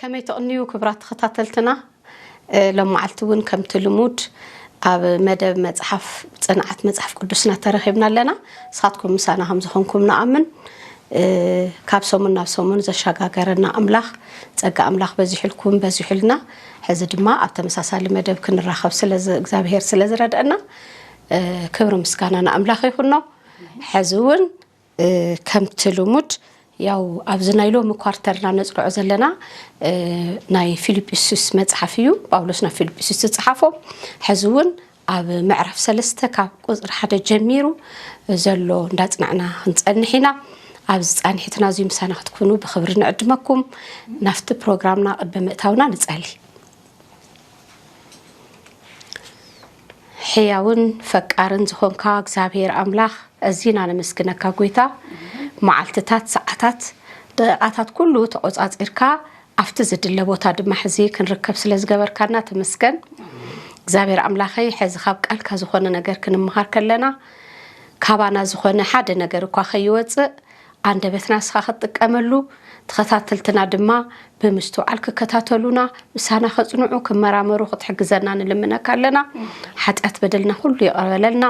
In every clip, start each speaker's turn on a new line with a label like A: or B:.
A: ከመይ ትቕንዩ ክብራት ተኸታተልትና ሎም መዓልቲ ውን ከምቲ ልሙድ ኣብ መደብ መጽሓፍ ጽንዓት መጽሓፍ ቅዱስና ተረኺብና ኣለና ንስኻትኩም ምሳና ከም ዝኾንኩም ንኣምን ካብ ሰሙን ናብ ሰሙን ዘሸጋገረና ኣምላኽ ጸጋ ኣምላኽ በዚሑልኩም በዚሑልና ሕዚ ድማ ኣብ ተመሳሳሊ መደብ ክንራኸብ እግዚኣብሄር ስለ ዝረድአና ክብሪ ምስጋና ንኣምላኽ ይኹኖ ሕዚ ውን ከምቲ ልሙድ ያው ኣብዚ ናይ ሎሚ ኳርተርና ነጽንዖ ዘለና ናይ ፊልጵስዩስ መጽሓፍ እዩ ጳውሎስ ናብ ፊልጵስዩስ ዝጽሓፎ ሕዚ እውን ኣብ ምዕራፍ ሰለስተ ካብ ቁፅሪ ሓደ ጀሚሩ ዘሎ እንዳጽናዕና ክንጸንሕ ኢና ኣብዚ ጻንሒትና እዙይ ምሳና ክትኩኑ ብክብሪ ንዕድመኩም ናፍቲ ፕሮግራምና ቅድሚ ምእታውና ንጸሊ ሕያውን ፈቃርን ዝኾንካ እግዚኣብሔር ኣምላኽ እዚና ነመስግነካ ጎይታ መዓልትታት ሰዓታት ደቂቓታት ኩሉ ተቆጻጺርካ ኣብቲ ዝድለ ቦታ ድማ ሕዚ ክንርከብ ስለ ዝገበርካና ተመስገን እግዚኣብሔር ኣምላኸይ ሕዚ ካብ ቃልካ ዝኾነ ነገር ክንምሃር ከለና ካባና ዝኾነ ሓደ ነገር እኳ ከይወፅእ ኣንደበትና እስኻ ክትጥቀመሉ፣ ተኸታተልትና ድማ ብምስትውዓል ክከታተሉና፣ ምሳና ከጽንዑ፣ ክመራመሩ ክትሕግዘና ንልምነካ ኣለና። ሓጢኣት በደልና ኩሉ ይቕረ በለልና።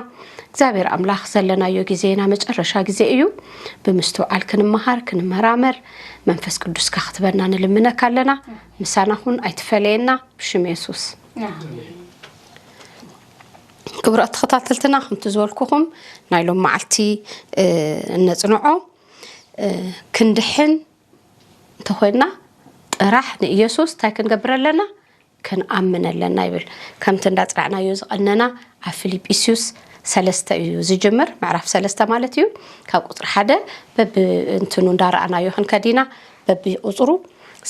A: እግዚኣብሔር ኣምላኽ ዘለናዮ ግዜ ናይ መጨረሻ ግዜ እዩ። ብምስትውዓል ክንመሃር፣ ክንመራመር፣ መንፈስ ቅዱስካ ክትበና ንልምነካ ኣለና። ምሳና ኩን፣ ኣይትፈለየና፣ ብሽም የሱስ። ክቡራት ተኸታተልትና ከምቲ ዝበልኩኹም ናይ ሎም መዓልቲ እነፅንዖ ክንድሕን እንተኾይንና ጥራሕ ንኢየሱስ እንታይ ክንገብር ኣለና ክንኣምን ኣለና ይብል ከምቲ እንዳፅናዕናዮ ዝቐነና ኣብ ፊልጵስዩስ ሰለስተ እዩ ዝጅምር ምዕራፍ ሰለስተ ማለት እዩ ካብ ቁፅሪ ሓደ በብእንትኑ እንዳረኣናዮ ክንከዲና በብቁፅሩ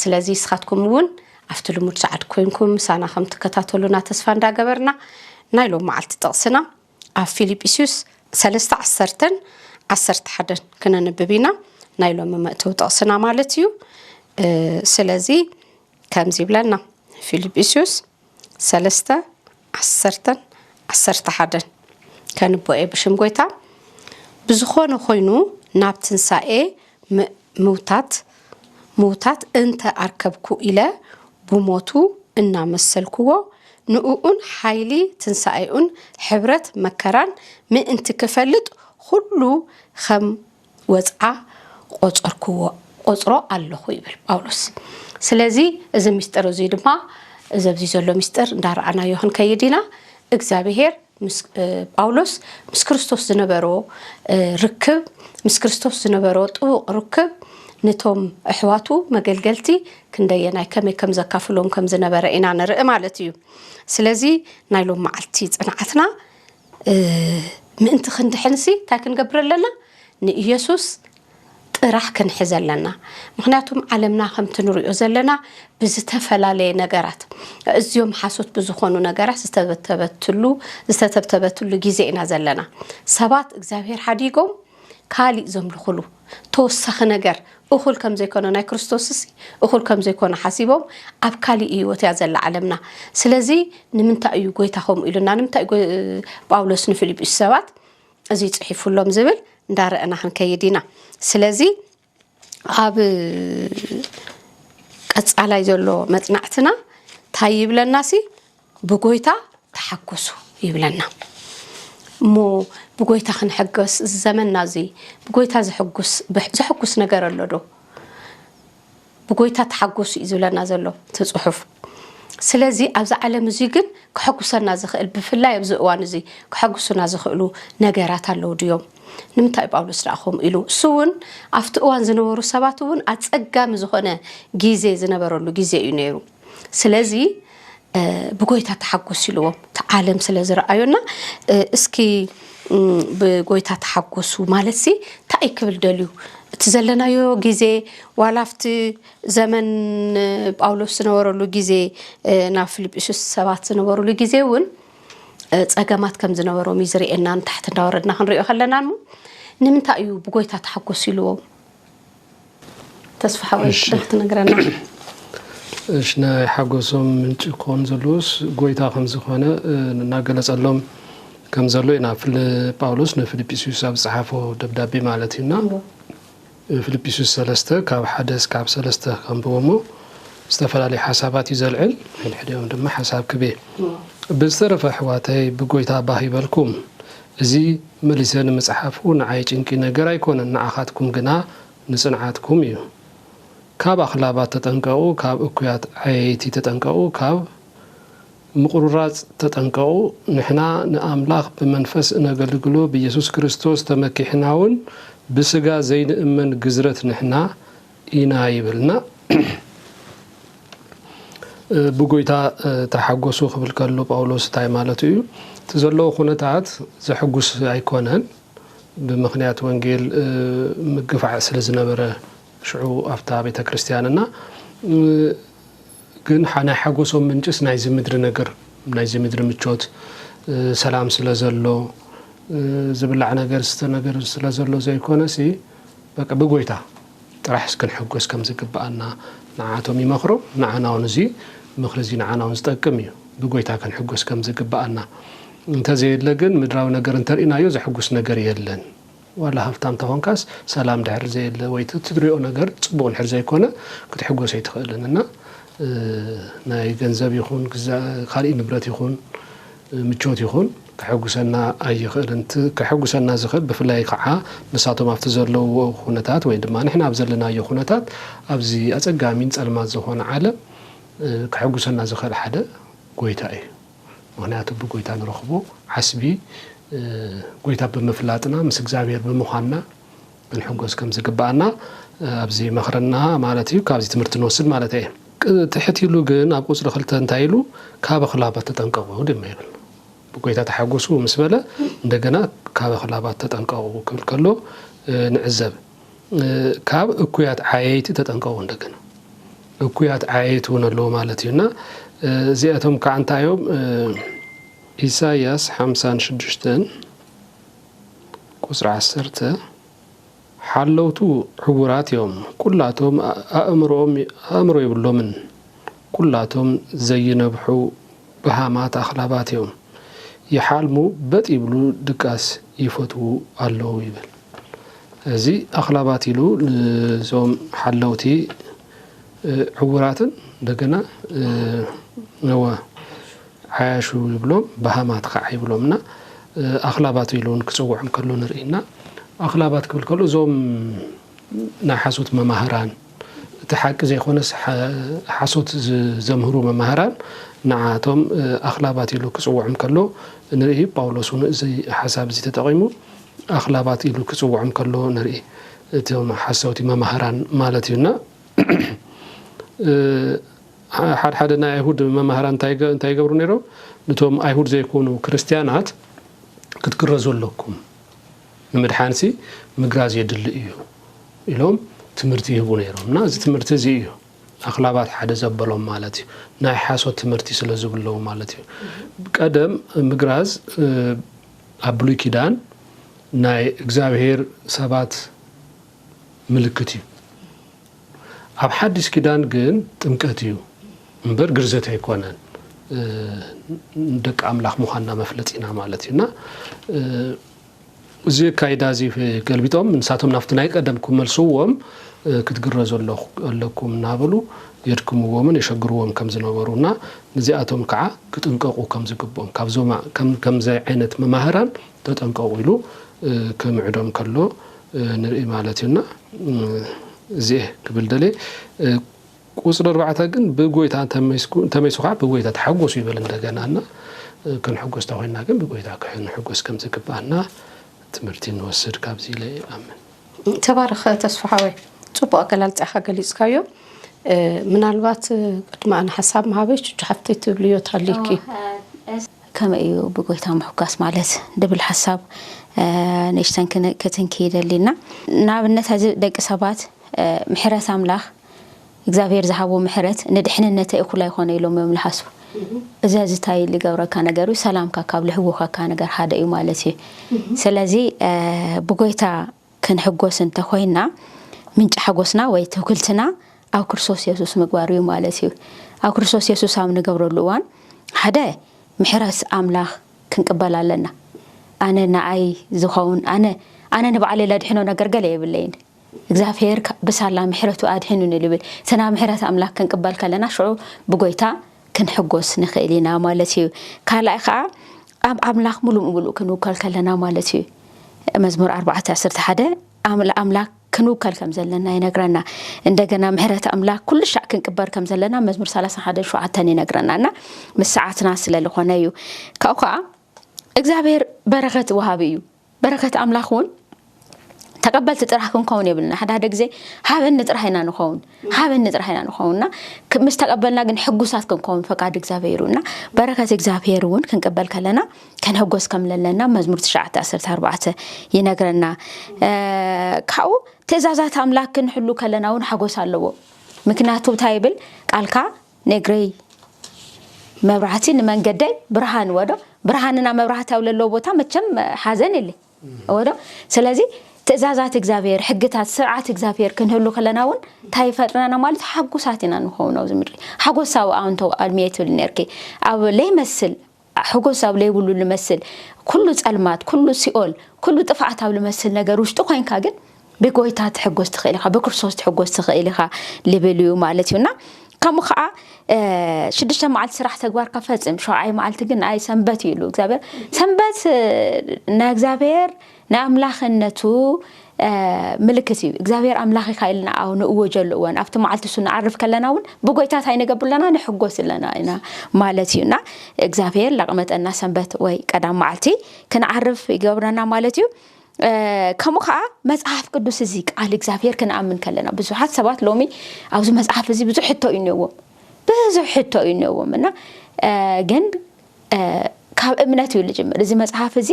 A: ስለዚ ስኻትኩም እውን ኣብቲ ልሙድ ሰዓት ኮይንኩም ምሳና ከም ትከታተሉና ተስፋ እንዳገበርና ናይ ሎም መዓልቲ ጥቕስና ኣብ ፊልጵስዩስ ሰለስተ ዓሰርተን ዓሰርተ ሓደን ክነንብብ ኢና ናይ ሎሚ መእተዊ ጥቕስና ማለት እዩ ስለዚ ከምዚ ይብለና ፊልጵስዩስ ሰለስተ ዓሰርተን ዓሰርተ ሓደን ከንብቦ እየ ብሽም ጎይታ ብዝኾነ ኮይኑ ናብ ትንሳኤ ምውታት ምውታት እንተ ኣርከብኩ ኢለ ብሞቱ እናመሰልክዎ ንእኡን ሓይሊ ትንሳኤኡን ሕብረት መከራን ምእንቲ ክፈልጥ ኹሉ ኸም ወጽዓ ቈጸርኩዎ፣ እቈጽሮ ኣሎኹ ይብል ጳውሎስ። ስለዚ እዚ ምስጢር እዙይ ድማ እዚ ኣብዚ ዘሎ ምስጢር እንዳረኣናዮ ክንከይድ ኢና። እግዚኣብሄር ምስ ጳውሎስ ምስ ክርስቶስ ዝነበሮ ርክብ ምስ ክርስቶስ ዝነበሮ ጥቡቕ ርክብ ነቶም ኣሕዋቱ መገልገልቲ ክንደየናይ ከመይ ከም ዘካፍሎም ከም ዝነበረ ኢና ንርኢ ማለት እዩ። ስለዚ ናይ ሎም መዓልቲ ጽንዓትና ምእንቲ ክንድሕንሲ እንታይ ክንገብር ኣለና? ንኢየሱስ ጥራሕ ክንሕዝ ኣለና። ምክንያቱም ዓለምና ከምቲ ንሪኦ ዘለና ብዝተፈላለየ ነገራት እዝዮም ሓሶት ብዝኾኑ ነገራት ዝተበተበትሉ ዝተተብተበትሉ ግዜ ኢና ዘለና። ሰባት እግዚኣብሔር ሓዲጎም ካሊእ ዘምልኹሉ ተወሳኺ ነገር እኹል ከም ዘይኮነ ናይ ክርስቶስሲ እኹል ከም ዘይኮነ ሓሲቦም ኣብ ካሊእ ህይወት እያ ዘላ ዓለምና ስለዚ ንምንታይ እዩ ጎይታ ከምኡ ኢሉና ንምንታይ ጳውሎስ ንፊልጵስ ሰባት እዚ ጽሒፉሎም ዝብል እንዳረእና ክንከይድ ኢና ስለዚ ኣብ ቀጻላይ ዘሎ መጽናዕትና እንታይ ይብለና ሲ ብጎይታ ተሓጎሱ ይብለና እሞ ብጎይታ ክንሕገስ እዚ ዘመንና እዚ ብጎይታ ዘሐጉስ ዘሐጉስ ነገር ኣሎ ዶ ብጎይታ ተሓጎሱ እዩ ዝብለና ዘሎ እቲ ጽሑፍ ስለዚ ኣብዚ ዓለም እዙይ ግን ከሐጉሰና ዝኽእል ብፍላይ ኣብዚ እዋን እዙይ ከሐጉሱና ዝኽእሉ ነገራት ኣለዉ ድዮም ንምንታይ ጳውሎስ ደኣ ከምኡ ኢሉ እሱ እውን ኣብቲ እዋን ዝነበሩ ሰባት እውን ኣጸጋሚ ዝኾነ ግዜ ዝነበረሉ ግዜ እዩ ነይሩ ስለዚ ብጎይታ ተሓጎስ ኢልዎም እቲ ዓለም ስለ ዝረኣዮና እስኪ ብጎይታ ተሓጎሱ ማለት ሲ እንታይ እዩ ክብል ደልዩ እቲ ዘለናዮ ግዜ ዋላ ኣብቲ ዘመን ጳውሎስ ዝነበረሉ ግዜ ናብ ፊልጵስዩስ ሰባት ዝነበሩሉ ግዜ እውን ፀገማት ከም ዝነበሮም እዩ ዝርእየና ንታሕቲ እንዳወረድና ክንሪኦ ከለና እሞ ንምንታይ እዩ ብጎይታ ተሓጎስ ኢልዎም ተስፋ ሓወይ ዶ ክትነግረና?
B: እሺ ናይ ሓጎሶም ምንጪ ክኾን ዘለዎስ ጎይታ ከም ዝኾነ እናገለጸሎም ከም ዘሎ ኢና ፍል ጳውሎስ ንፊልጵስዩስ ኣብ ዝጸሓፎ ደብዳቤ ማለት እዩና ፊልጵስዩስ ሰለስተ ካብ ሓደ እስካብ ሰለስተ ከንብቦሞ ዝተፈላለዩ ሓሳባት እዩ ዘልዕል ሕድሕዲኦም ድማ ሓሳብ ክቤ ብዝተረፈ ኣሕዋተይ ብጎይታ ባህ ይበልኩም እዚ መሊሰ ንምጽሓፉ ንዓይ ጭንቂ ነገር ኣይኮነን ንዓኻትኩም ግና ንጽንዓትኩም እዩ። ካብ ኣኽላባት ተጠንቀቑ ካብ እኩያት ዓየይቲ ተጠንቀቑ ካብ ምቑርራጽ ተጠንቀቑ። ንሕና ንኣምላኽ ብመንፈስ እነገልግሎ ብየሱስ ክርስቶስ ተመኪሕናውን ብስጋ ዘይንእመን ግዝረት ንሕና ኢና ይብልና። ብጐይታ ተሓጐሱ ክብል ከሎ ጳውሎስ እንታይ ማለቱ እዩ? እቲ ዘለዎ ዅነታት ዘሐጕስ ኣይኰነን። ብምኽንያት ወንጌል ምግፋዕ ስለ ዝነበረ ሽዑ ኣብታ ቤተ ክርስትያን እና ግን ናይ ሓጐሶም ምንጭስ ናይዚ ምድሪ ነገር ናይዚ ምድሪ ምቾት ሰላም ስለ ዘሎ ዝብላዕ ነገር ዝስተ ነገር ስለ ዘሎ ዘይኰነሲ በቃ ብጎይታ ጥራሕስ ክንሕጎስ ከም ዝግብኣና ንዓኣቶም ይመኽሩ ንዓና ውን እዚ ምኽሪ እዚ ንዓና ውን ዝጠቅም እዩ ብጎይታ ክንሕጎስ ከም ዝግብኣና እንተ ዘየለ ግን ምድራዊ ነገር እንተ ርኢናዮ ዘሕጉስ ነገር የለን ዋላ ሃፍታም እንተ ኾንካስ ሰላም ድሕሪ ዘየለ ወይ እቲ ትሪኦ ነገር ጽቡቕ ድሕሪ ዘይኮነ ክትሕጎስ ኣይትኽእልን እና ናይ ገንዘብ ይኹን ካልእ ንብረት ይኹን ምቾት ይኹን ከሐጉሰና ኣይኽእልን። እቲ ከሐጉሰና ዝኽእል ብፍላይ ኸዓ ንሳቶም ኣብቲ ዘለውዎ ኹነታት ወይ ድማ ንሕና ኣብ ዘለናዮ ኹነታት ኣብዚ ኣፀጋሚን ፀልማት ዝኾነ ዓለም ከሐጉሰና ዝኽእል ሓደ ጎይታ እዩ። ምኽንያቱ ብጎይታ ንረኽቦ ዓስቢ ጎይታ ብምፍላጥና ምስ እግዚኣብሔር ብምዃንና ክንሕጎስ ከም ዝግብኣና ኣብዚ መኽረና ማለት እዩ፣ ካብዚ ትምህርቲ ንወስድ ማለት እየ። ትሕት ኢሉ ግን ኣብ ቁጽሪ ክልተ እንታይ ኢሉ ካብ ኣኽላባት ተጠንቀቑ ድማ ይብል። ብጎይታ ተሓጎሱ ምስ በለ እንደገና ካብ ኣኽላባት ተጠንቀቑ ክብል ከሎ ንዕዘብ። ካብ እኩያት ዓየይቲ ተጠንቀቑ እንደገና እኩያት ዓየይቲ እውን ኣለዎ ማለት እዩ እና እዚኣቶም ከዓ እንታይ እዮም ኢሳያስ ሓምሳን ሽዱሽተን ቁጽሪ ዓሰርተ፣ ሓለውቱ ዕዉራት እዮም፣ ኵላቶም ኣእምሮኦም ኣእምሮ የብሎምን፣ ኵላቶም ዘይነብሑ በሃማት ኣኽላባት እዮም፣ ይሓልሙ በጥ ይብሉ ድቃስ ይፈትዉ ኣለዉ ይብል። እዚ ኣኽላባት ኢሉ ንዞም ሓለውቲ ዕዉራትን እንደገና ነወ ዓያሹ ይብሎም በሃማት ኸዓ ይብሎም እና ኣኽላባት ኢሉ እውን ክፅውዖም ከሎ ንርኢ እና ኣኽላባት ክብል ከሎ እዞም ናይ ሓሶት መማህራን እቲ ሓቂ ዘይኮነስ ሓሶት ዘምህሩ መማህራን ንዓቶም ኣኽላባት ኢሉ ክፅውዖም ከሎ ንርኢ ጳውሎስ እውን እዚ ሓሳብ እዚ ተጠቒሙ ኣኽላባት ኢሉ ክፅውዖም ከሎ ንርኢ እቶም ሓሰውቲ መማህራን ማለት እዩ እና ሓድ ሓደ ናይ ኣይሁድ መማህራን እንታይ እንታይ ይገብሩ ነይሮም? ንቶም ኣይሁድ ዘይኮኑ ክርስትያናት ክትግረዙ ኣለኩም፣ ንምድሓንሲ ምግራዝ የድሊ እዩ ኢሎም ትምህርቲ ይህቡ ነይሮም እና እዚ ትምህርቲ እዚ እዩ ኣኽላባት ሓደ ዘበሎም ማለት እዩ ናይ ሓሶት ትምህርቲ ስለ ዝብለዉ ማለት እዩ ቀደም ምግራዝ ኣብ ብሉይ ኪዳን ናይ እግዚኣብሄር ሰባት ምልክት እዩ። ኣብ ሓዲስ ኪዳን ግን ጥምቀት እዩ እምበር ግርዘት ኣይኮነን። ደቂ ኣምላኽ ምዃንና መፍለጢና ማለት እዩ እና እዚ ኣካይዳ እዚ ገልቢጦም ንሳቶም ናብቲ ናይ ቀደም ክመልስዎም ክትግረዙ ኣለኩም እናበሉ የድክምዎምን የሸግርዎም ከም ዝነበሩ እና ንዚኣቶም ከዓ ክጥንቀቁ ከም ዝግብኦም ካብዞም ከምዚ ዓይነት መማህራን ተጠንቀቁ ኢሉ ከምዕዶም ከሎ ንርኢ ማለት እዩ እና እዚኤ ክብል ደልየ ቁፅሪ ኣርባዕተ ግን ብጎይታ እንተመይሱ ከዓ ብጎይታ ተሓጎሱ ይበል እንደገና እና ክንሕጎስ ተኮይና ግን ብጎይታ ክንሕጎስ ከም ዝግባኣና ትምህርቲ ንወስድ ካብዚ ኢለ ይኣምን ተባረኽ
A: ተስፋሃወይ ፅቡቅ ኣገላልፃ ኢካ ገሊፅካዮ ምናልባት ቅድሚ ኣነ ሓሳብ ምሃበይ ቹቹ ሓፍተይ ትብልዮ ተሃሊኪ።
C: ከመይ እዩ ብጎይታ ምሕጓስ ማለት ድብል ሓሳብ ንእሽተን ክትንኪ ይደሊ እና ንኣብነት ሕዚ ደቂ ሰባት ምሕረት ኣምላኽ እግዚኣብሔር ዝሃቦ ምሕረት ንድሕንነተ እኩል ኣይኮነ ኢሎም እዮም ልሓስቡ እዚ እዚ እንታይ ልገብረካ ነገር እዩ ሰላምካ ካብ ልሕውኸካ ነገር ሓደ እዩ ማለት እዩ ስለዚ ብጎይታ ክንሕጎስ እንተ ኾይንና፣ ምንጪ ሓጎስና ወይ ትውክልትና ኣብ ክርስቶስ የሱስ ምግባር እዩ ማለት እዩ። ኣብ ክርስቶስ የሱስ ኣብ ንገብረሉ እዋን፣ ሓደ ምሕረት ኣምላኽ ክንቅበል ኣለና። ኣነ ንኣይ ዝኸውን ኣነ ኣነ ንባዕለይ ለድሕኖ ነገር ገለ የብለይን። እግዚኣብሄር ብሳላ ምሕረቱ ኣድሒኑኒ ልብል። እቲ ናብ ምሕረት ኣምላኽ ክንቅበል ከለና ሽዑ ብጎይታ ክንሕጎስ ንኽእል ኢና ማለት እዩ። ካልኣይ ኸዓ ኣብ ኣምላኽ ምሉእ ብምሉእ ክንውከል ከለና ማለት እዩ። መዝሙር ኣርባዕተ ዓሰርተ ሓደ ኣምላክ ክንውከል ከም ዘለና ይነግረና እንደገና ምሕረት ኣምላክ ኩሉ ሻዕ ክንቅበር ከም ዘለና መዝሙር ሰላሳ ሓደ ሸውዓተን ይነግረና እና ምስ ሰዓትና ስለ ዝኾነ እዩ ካብኡ ከዓ እግዚኣብሔር በረኸት ወሃቢ እዩ በረከት ኣምላክ እውን ተቀበልቲ ጥራሕ ክንከውን የብልና ሓደ ሓደ ግዜ ሃበኒ ጥራሕ ኢና ንኸውን ሃበኒ ጥራሕ ኢና ንኸውን እና ምስ ተቀበልና ግን ሕጉሳት ክንከውን ፈቃድ እግዚኣብሄር እዩ እና በረከት እግዚኣብሄር እውን ክንቅበል ከለና ከንሕጎስ ከም ለለና መዝሙር 914 ይነግረና ካብኡ ትእዛዛት ኣምላክ ክንሕሉ ከለና እውን ሓጎስ ኣለዎ ምክንያቱ እንታይ ይብል ቃልካ ነግረይ መብራህቲ ንመንገደይ ብርሃን ወዶ ብርሃንና መብራህቲ ኣብ ለለዎ ቦታ መቸም ሓዘን የለ ወዶ ስለዚ ትእዛዛት እግዚኣብሔር ሕግታት ስርዓት እግዚኣብሔር ክንህሉ ከለና እውን እንታይ ይፈጥረና ማለት ሓጉሳት ኢና ንኸውን ኣብዚ ምድሪ ሓጎሳዊ ኣንቶ ኣልሚየ ትብል ነርኪ ኣብ ለይመስል ሓጎስ ኣብ ለይብሉ ልመስል ኩሉ ጸልማት ኩሉ ሲኦል ኩሉ ጥፍኣት ኣብ ልመስል ነገር ውሽጢ ኮይንካ ግን ብጎይታ ትሕጎስ ትኽእል ኢኻ ብክርስቶስ ትሕጎስ ትኽእል ኢኻ ልብል እዩ ማለት እዩ እና ከምኡ ከዓ ሽዱሽተ መዓልቲ ስራሕ ተግባርካ ፈፅም ሸውዓይ መዓልቲ ግን ኣይ ሰንበት እዩ ኢሉ እግዚኣብሔር ሰንበት ናይ እግዚኣብሔር ናይ ኣምላኽነቱ ምልክት እዩ። እግዚኣብሔር ኣምላኽ ኢኻ ኢልና ኣው ንእወጀሉ እወን ኣብቲ መዓልቲ እሱ ንዓርፍ ከለና እውን ብጎይታ እንታይ ንገብር ኣለና ንሕጎስ ኣለና ኢና ማለት እዩ እና እግዚኣብሔር ለቕመጠና ሰንበት ወይ ቀዳም መዓልቲ ክንዓርፍ ይገብረና ማለት እዩ። ከምኡ ከዓ መፅሓፍ ቅዱስ እዚ ቃል እግዚኣብሔር ክንኣምን ከለና ብዙሓት ሰባት ሎሚ ኣብዚ መፅሓፍ እዚ ብዙሕ ሕቶ እዩ እኒዎም ብዙሕ ሕቶ እዩ እኒዎም እና ግን ካብ እምነት እዩ ልጅምር እዚ መጽሓፍ እዚ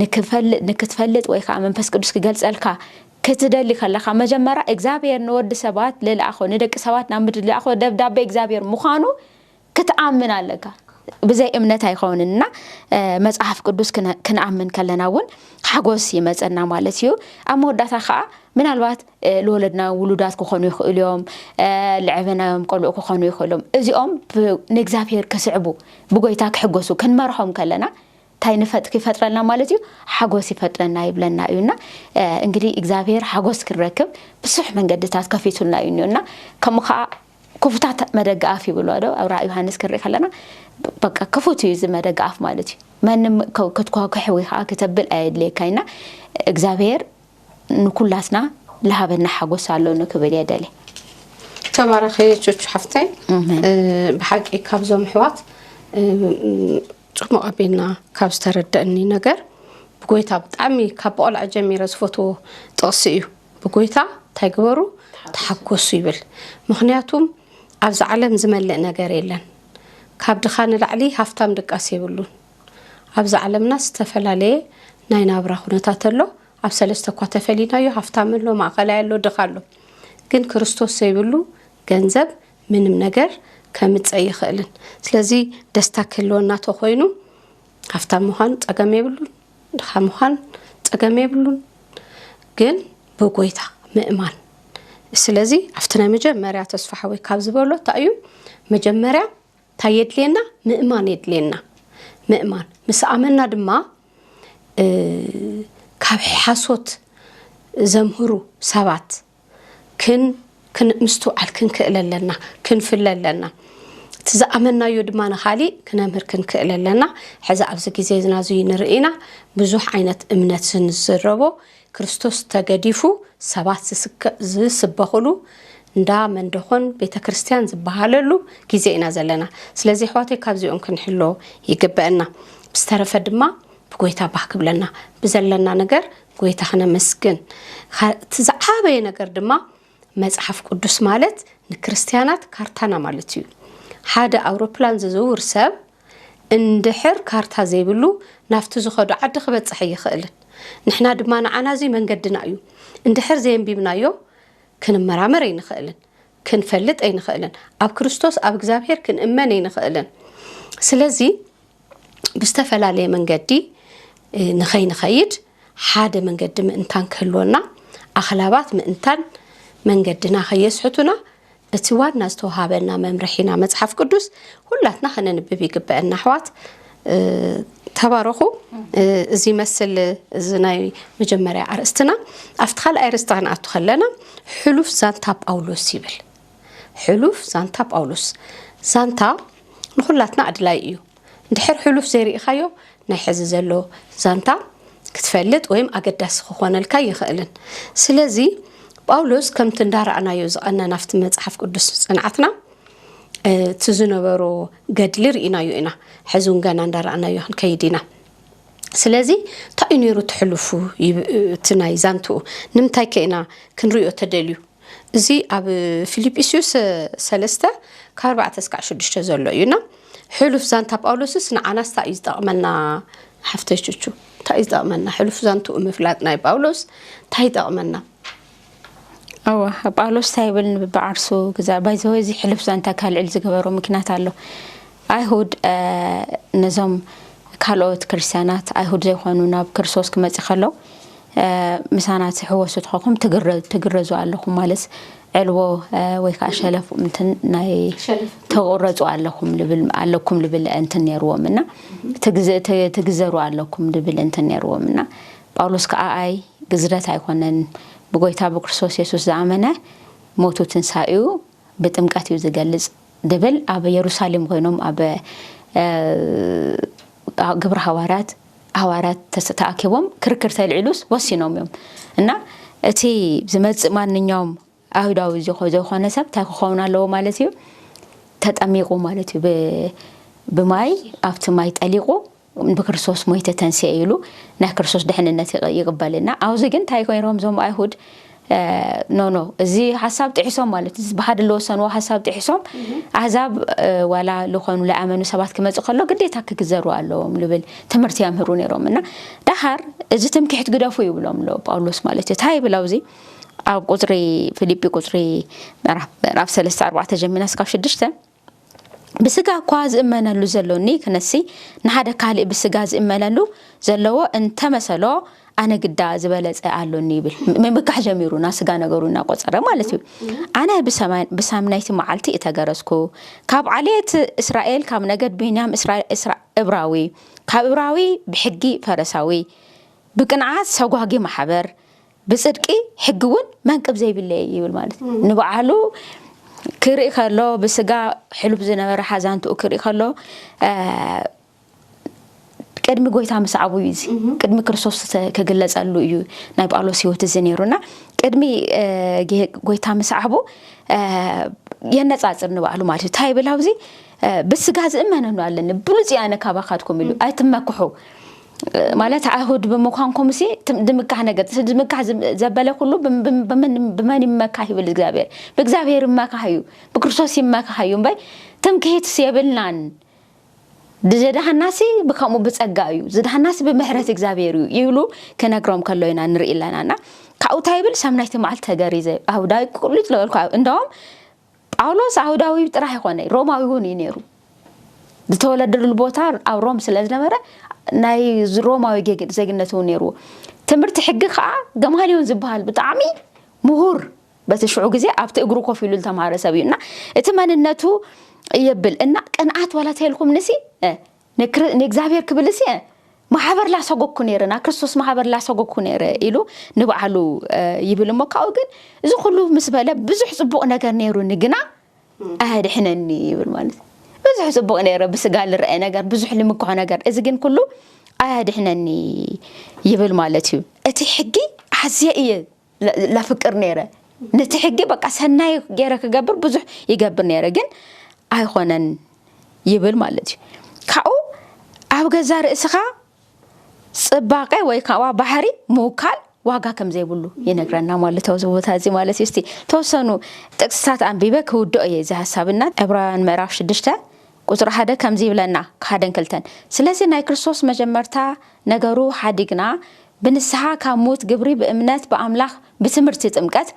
C: ንክፈልጥ ንክትፈልጥ ወይ ከዓ መንፈስ ቅዱስ ክገልጸልካ ክትደሊ ከለካ መጀመርያ እግዚኣብሔር ንወዲ ሰባት ልልኣኾ ንደቂ ሰባት ናብ ምድሪ ልኣኾ ደብዳቤ እግዚኣብሔር ምዃኑ ክትኣምን ኣለካ ብዘይ እምነት ኣይኸውንን እና መጽሓፍ ቅዱስ ክንኣምን ከለና እውን ሓጎስ ይመፀና ማለት እዩ ኣብ መወዳእታ ከዓ ምናልባት ልወለድና ውሉዳት ክኾኑ ይኽእሉ እዮም፣ ልዐበናዮም ቆልዑ ክኾኑ ይኽእሉም። እዚኦም ብ ንእግዚኣብሄር ክስዕቡ ብጐይታ ክሕጐሱ ክንመርሖም ከለና ታይ ንፈጥ ይፈጥረልና ማለት እዩ ሓጐስ ይፈጥረና ይብለና እዩ እና እንግዲህ እግዚኣብሄር ሓጐስ ክንረክብ ብዙሕ መንገድታት ከፊቱልና እዩ እኒኦ እና ከምኡ ከዓ ክፉታት መደገ ኣፍ ይብሎ ዶ ኣብ ራእ ዮሃንስ ክንርኢ ከለና በቃ ክፉት እዩ እዚ መደገ ኣፍ ማለት እዩ መንም ክትኳኩሕ ወይ ከዓ ክተብል ኣየድልየካ እና እግዚኣብሄር ንኩላትና ልሃበና ሓጎስ ኣሎኒ ክብል እየ ደልየ። ተባረኺ
A: ቹቹ ሓፍተይ ብሓቂ ካብዞም ኣሕዋት ፅሙቕ ኣቢልና ካብ ዝተረደእኒ ነገር ብጎይታ ብጣዕሚ ካብ ቆልዐ ጀሚረ ዝፈትዎ ጥቕሲ እዩ ብጎይታ እንታይ ግበሩ ተሓጎሱ ይብል ምክንያቱም ኣብዚ ዓለም ዝመልእ ነገር የለን ካብ ድኻ ንላዕሊ ሃፍታም ድቃስ የብሉን ኣብዚ ዓለምና ዝተፈላለየ ናይ ናብራ ኩነታት ኣሎ። ኣብ ሰለስተ እኳ ተፈሊናዮ ሃፍታም ኣሎ፣ ማእኸላይ ኣሎ፣ ድኻ ኣሎ። ግን ክርስቶስ ዘይብሉ ገንዘብ ምንም ነገር ከምፅ ኣይኽእልን። ስለዚ ደስታ ክህልወና ተኾይኑ ሃፍታም ምዃን ፀገም የብሉን፣ ድኻ ምዃን ፀገም የብሉን። ግን ብጎይታ ምእማን ስለዚ ኣብቲ ናይ መጀመርያ ተስፋ ሓወይ ካብ ዝበሎ እንታይ እዩ መጀመርያ ታይ የድልየና ምእማን የድልየና ምእማን ምስ ኣመና ድማ ካብ ሓሶት ዘምህሩ ሰባት ምስትውዓል ክንክእል ኣለና ክንፍለ ኣለና እቲ ዝኣመናዮ ድማ ንካሊእ ክነምህር ክንክእል ኣለና ሕዚ ኣብዚ ግዜና እዚ ንርኢና ብዙሕ ዓይነት እምነት ዝንዝረቦ ክርስቶስ ተገዲፉ ሰባት ዝስበኹሉ እንዳ መንደኾን ቤተ ክርስቲያን ዝበሃለሉ ግዜ ኢና ዘለና ስለዚ ኣሕዋተይ ካብዚኦም ክንሕሎ ይግበአና ብዝተረፈ ድማ ብጎይታ ባህ ክብለና ብዘለና ነገር ጎይታ ክነመስግን እቲ ዝዓበየ ነገር ድማ መጽሓፍ ቅዱስ ማለት ንክርስትያናት ካርታና ማለት እዩ ሓደ ኣውሮፕላን ዝዝውር ሰብ እንድሕር ካርታ ዘይብሉ ናብቲ ዝኸዶ ዓዲ ክበጽሕ ኣይኽእልን። ንሕና ድማ ንዓና እዚ መንገድና እዩ። እንድሕር ዘየንቢብናዮ ክንመራመር ኣይንኽእልን። ክንፈልጥ ኣይንኽእልን። ኣብ ክርስቶስ ኣብ እግዚኣብሔር ክንእመን ኣይንኽእልን። ስለዚ ብዝተፈላለየ መንገዲ ንኸይንኸይድ ሓደ መንገዲ ምእንታን ክህልወና ኣኽላባት ምእንታን መንገድና ከየስሕቱና እቲ ዋና ዝተውሃበና መምርሒና መጽሓፍ ቅዱስ ሁላትና ከነንብብ ይግበአና ኣሕዋት ተባረኹ እዚ ይመስል እዚ ናይ መጀመርያ ኣርእስትና ኣብቲ ካልኣይ ኣርእስቲ ክንኣቱ ከለና ሕሉፍ ዛንታ ጳውሎስ ይብል ሕሉፍ ዛንታ ጳውሎስ ዛንታ ንኩላትና ኣድላይ እዩ ድሕር ሕሉፍ ዘይርኢኻዮ ናይ ሕዚ ዘሎ ዛንታ ክትፈልጥ ወይም ኣገዳሲ ክኾነልካ ይኽእልን። ስለዚ ጳውሎስ ከምቲ እንዳረኣናዮ ዝቐነና ኣብቲ መጽሓፍ ቅዱስ ጽንዓትና እቲ ዝነበሮ ገድሊ ርኢናዮ ኢና። ሕዚ እውን ገና እንዳረኣናዮ ክንከይድ ኢና። ስለዚ እንታይ እዩ ነይሩ እቲ ሕሉፉ እቲ ናይ ዛንትኡ ንምንታይ ከ ኢና ክንሪኦ ተደልዩ? እዚ ኣብ ፊልጵስዩስ ሰለስተ ካብ ኣርባዕተ እስካዕ ሽዱሽተ ዘሎ እዩ እና ሕሉፍ ዛንታ ጳውሎስስ ንዓናስ ታይ እዩ ዝጠቕመና ሓፍተይ ቹቹ እንታይ እዩ ዝጠቕመና ሕሉፍ ዛንትኡ ምፍላጥ ናይ ጳውሎስ እንታይ ይጠቕመና
C: እወ ጳውሎስ እንታይ ይብል ንብዓርሱ ግዛ ባይዘወ እዚ ሕሉፍ ዛንታ ካልዕል ዝገበሮ ምክንያት ኣሎ ኣይሁድ ነዞም ካልኦት ክርስትያናት ኣይሁድ ዘይኮኑ ናብ ክርስቶስ ክመፅእ ከሎ ምሳና ትሕወሱ ተኾንኩም ትግረዙ ኣለኹም ማለት ዕልቦ ወይ ከዓ ሸለፍ እንትን ናይ ተቁረፁ ኣለኹም ልብል ኣለኩም ልብል እንትን ነይርዎም እና ትግዘሩ ኣለኩም ልብል እንትን ነይርዎም እና ጳውሎስ ከዓ ኣይ ግዝረት ኣይኮነን ብጎይታ ብክርስቶስ የሱስ ዝኣመነ ሞቱ ትንሳኤኡ ብጥምቀት እዩ ዝገልፅ ድብል ኣብ የሩሳሌም ኮይኖም ኣብ ግብረ ሃዋርያት ሃዋርያት ተኣኪቦም ክርክር ተልዒሉስ ወሲኖም እዮም እና እቲ ዝመፅእ ማንኛውም ኣይሁዳዊ ዘይኮነ ሰብ እንታይ ክኸውን ኣለዎ ማለት እዩ ተጠሚቁ ማለት እዩ ብማይ ኣብቲ ማይ ጠሊቁ ብክርስቶስ ሞይተ ተንስኤ ኢሉ ናይ ክርስቶስ ድሕንነት ይቕበልና ኣብዚ ግን እንታይ ኮይሮም እዞም ኣይሁድ ኖኖ እዚ ሀሳብ ጥሒሶም ማለት እዚ ብሓደ ለወሰንዎ ሀሳብ ጥሒሶም ኣህዛብ ዋላ ልኾኑ ለኣመኑ ሰባት ክመጽእ ከሎ ግዴታ ክግዘሩ ኣለዎም ልብል ትምህርቲ ያምህሩ ነይሮም እና ዳሓር እዚ ትምክሕት ግደፉ ይብሎም ኣሎ ጳውሎስ ማለት እዩ ታይ ይብል ኣብዚ ኣብ ቁፅሪ ፊልጲ ቁፅሪ ምዕራፍ ሰለስተ ኣርባዕተ ጀሚና እስካብ ሽድሽተ ብስጋ እኳ ዝእመነሉ ዘሎኒ ክነሲ፣ ንሓደ ካልእ ብስጋ ዝእመነሉ ዘለዎ እንተ መሰሎ፣ ኣነ ግዳ ዝበለጸ ኣሎኒ ይብል። ምምካሕ ጀሚሩ፣ ናብ ስጋ ነገሩ እናቆጸረ ማለት እዩ። ኣነ ብሰምናይቲ መዓልቲ እተገረዝኩ፣ ካብ ዓሌት እስራኤል፣ ካብ ነገድ ብንያም እብራዊ፣ ካብ እብራዊ ብሕጊ ፈረሳዊ፣ ብቅንዓት ሰጓጊ ማሕበር፣ ብጽድቂ ሕጊ እውን መንቅብ ዘይብለይ እየ ይብል ማለት እዩ። ንበዓሉ ክርኢ ከሎ ብስጋ ሕሉፍ ዝነበረ ሓዛንትኡ ክርኢ ከሎ ቅድሚ ጎይታ ምስዓቡ እዩ እዚ ቅድሚ ክርስቶስ ክግለጸሉ እዩ ናይ ጳውሎስ ህይወት እዚ ነይሩና ቅድሚ ጎይታ ምስዓቡ የነጻጽር ንባዕሉ ማለት እዩ እንታይ ይብል ኣብዚ ብስጋ ዝእመነኑ ኣለኒ ብሉፅ ኣነ ካባኻትኩም ኢሉ ኣይትመክሑ ማለት ኣይሁድ ብምዃንኩም ሲ ድምካህ ነገር ድምካህ ዘበለ ኩሉ ብመን ይመካህ ይብል እግዚኣብሔር ብእግዚኣብሔር ይመካህ እዩ ብክርስቶስ ይመካህ እዩ እምበይ ትምክሂትስ የብልናን ዝድሃና ሲ ብከምኡ ብፀጋ እዩ ዝድሃና ሲ ብምሕረት እግዚኣብሔር እዩ ይብሉ ክነግሮም ከሎ ኢና ንርኢ ኣለና እና ካብኡ እንታይ ይብል ሰምናይቲ መዓልቲ ተገሪዘ ኣብ ዳዊት ቁልጭ ዝበልኩ እንደውም ጳውሎስ ኣይሁዳዊ ጥራሕ ኣይኮነይ ሮማዊ እውን እዩ ነይሩ ዝተወለደሉ ቦታ ኣብ ሮም ስለ ዝነበረ ናይ ሮማዊ ዜግነት እውን ነይርዎ ትምህርቲ ሕጊ ከዓ ገማልዮን ዝበሃል ብጣዕሚ ምሁር በቲ ሽዑ ግዜ ኣብቲ እግሩ ኮፍ ኢሉ ዝተማሃረ ሰብ እዩ እና እቲ መንነቱ የብል እና ቅንኣት ዋላ ተልኩም ንሲ ንእግዚኣብሔር ክብል እሴ ማሕበር ላሰጎግኩ ነይረ፣ ናብ ክርስቶስ ማሕበር ላሰጎግኩ ነይረ ኢሉ ንባዕሉ ይብል እሞ ካብኡ ግን እዚ ኩሉ ምስ በለ ብዙሕ ጽቡቕ ነገር ነይሩኒ ግና ኣየድሕነኒ ይብል ማለት እዩ። ብዙሕ ጽቡቕ ነይረ ብስጋ ልርአ ነገር ብዙሕ ልምክሖ ነገር እዚ ግን ኩሉ ኣያድሕነኒ ይብል ማለት እዩ እቲ ሕጊ ኣዝየ እየ ለፍቅር ነይረ ነቲ ሕጊ በቃ ሰናይ ገይረ ክገብር ብዙሕ ይገብር ነይረ ግን ኣይኾነን ይብል ማለት እዩ ካብኡ ኣብ ገዛ ርእስኻ ጽባቐ ወይ ከዓ ባህሪ ምውካል ዋጋ ከም ዘይብሉ ይነግረና ማለት ኣብዚ ቦታ እዚ ማለት እዩ እስቲ ተወሰኑ ጥቅስታት ኣንቢበ ክውድኦ እየ እዚ ሃሳብና ዕብራውያን ምዕራፍ ሽዱሽተ ቁጽሪ ሓደ ከምዚ ይብለና ሓደን ክልተን ስለዚ ናይ ክርስቶስ መጀመርታ ነገሩ ሓዲግና ብንስሓ ካብ ሙት ግብሪ ብእምነት ብኣምላኽ ብትምህርቲ ጥምቀት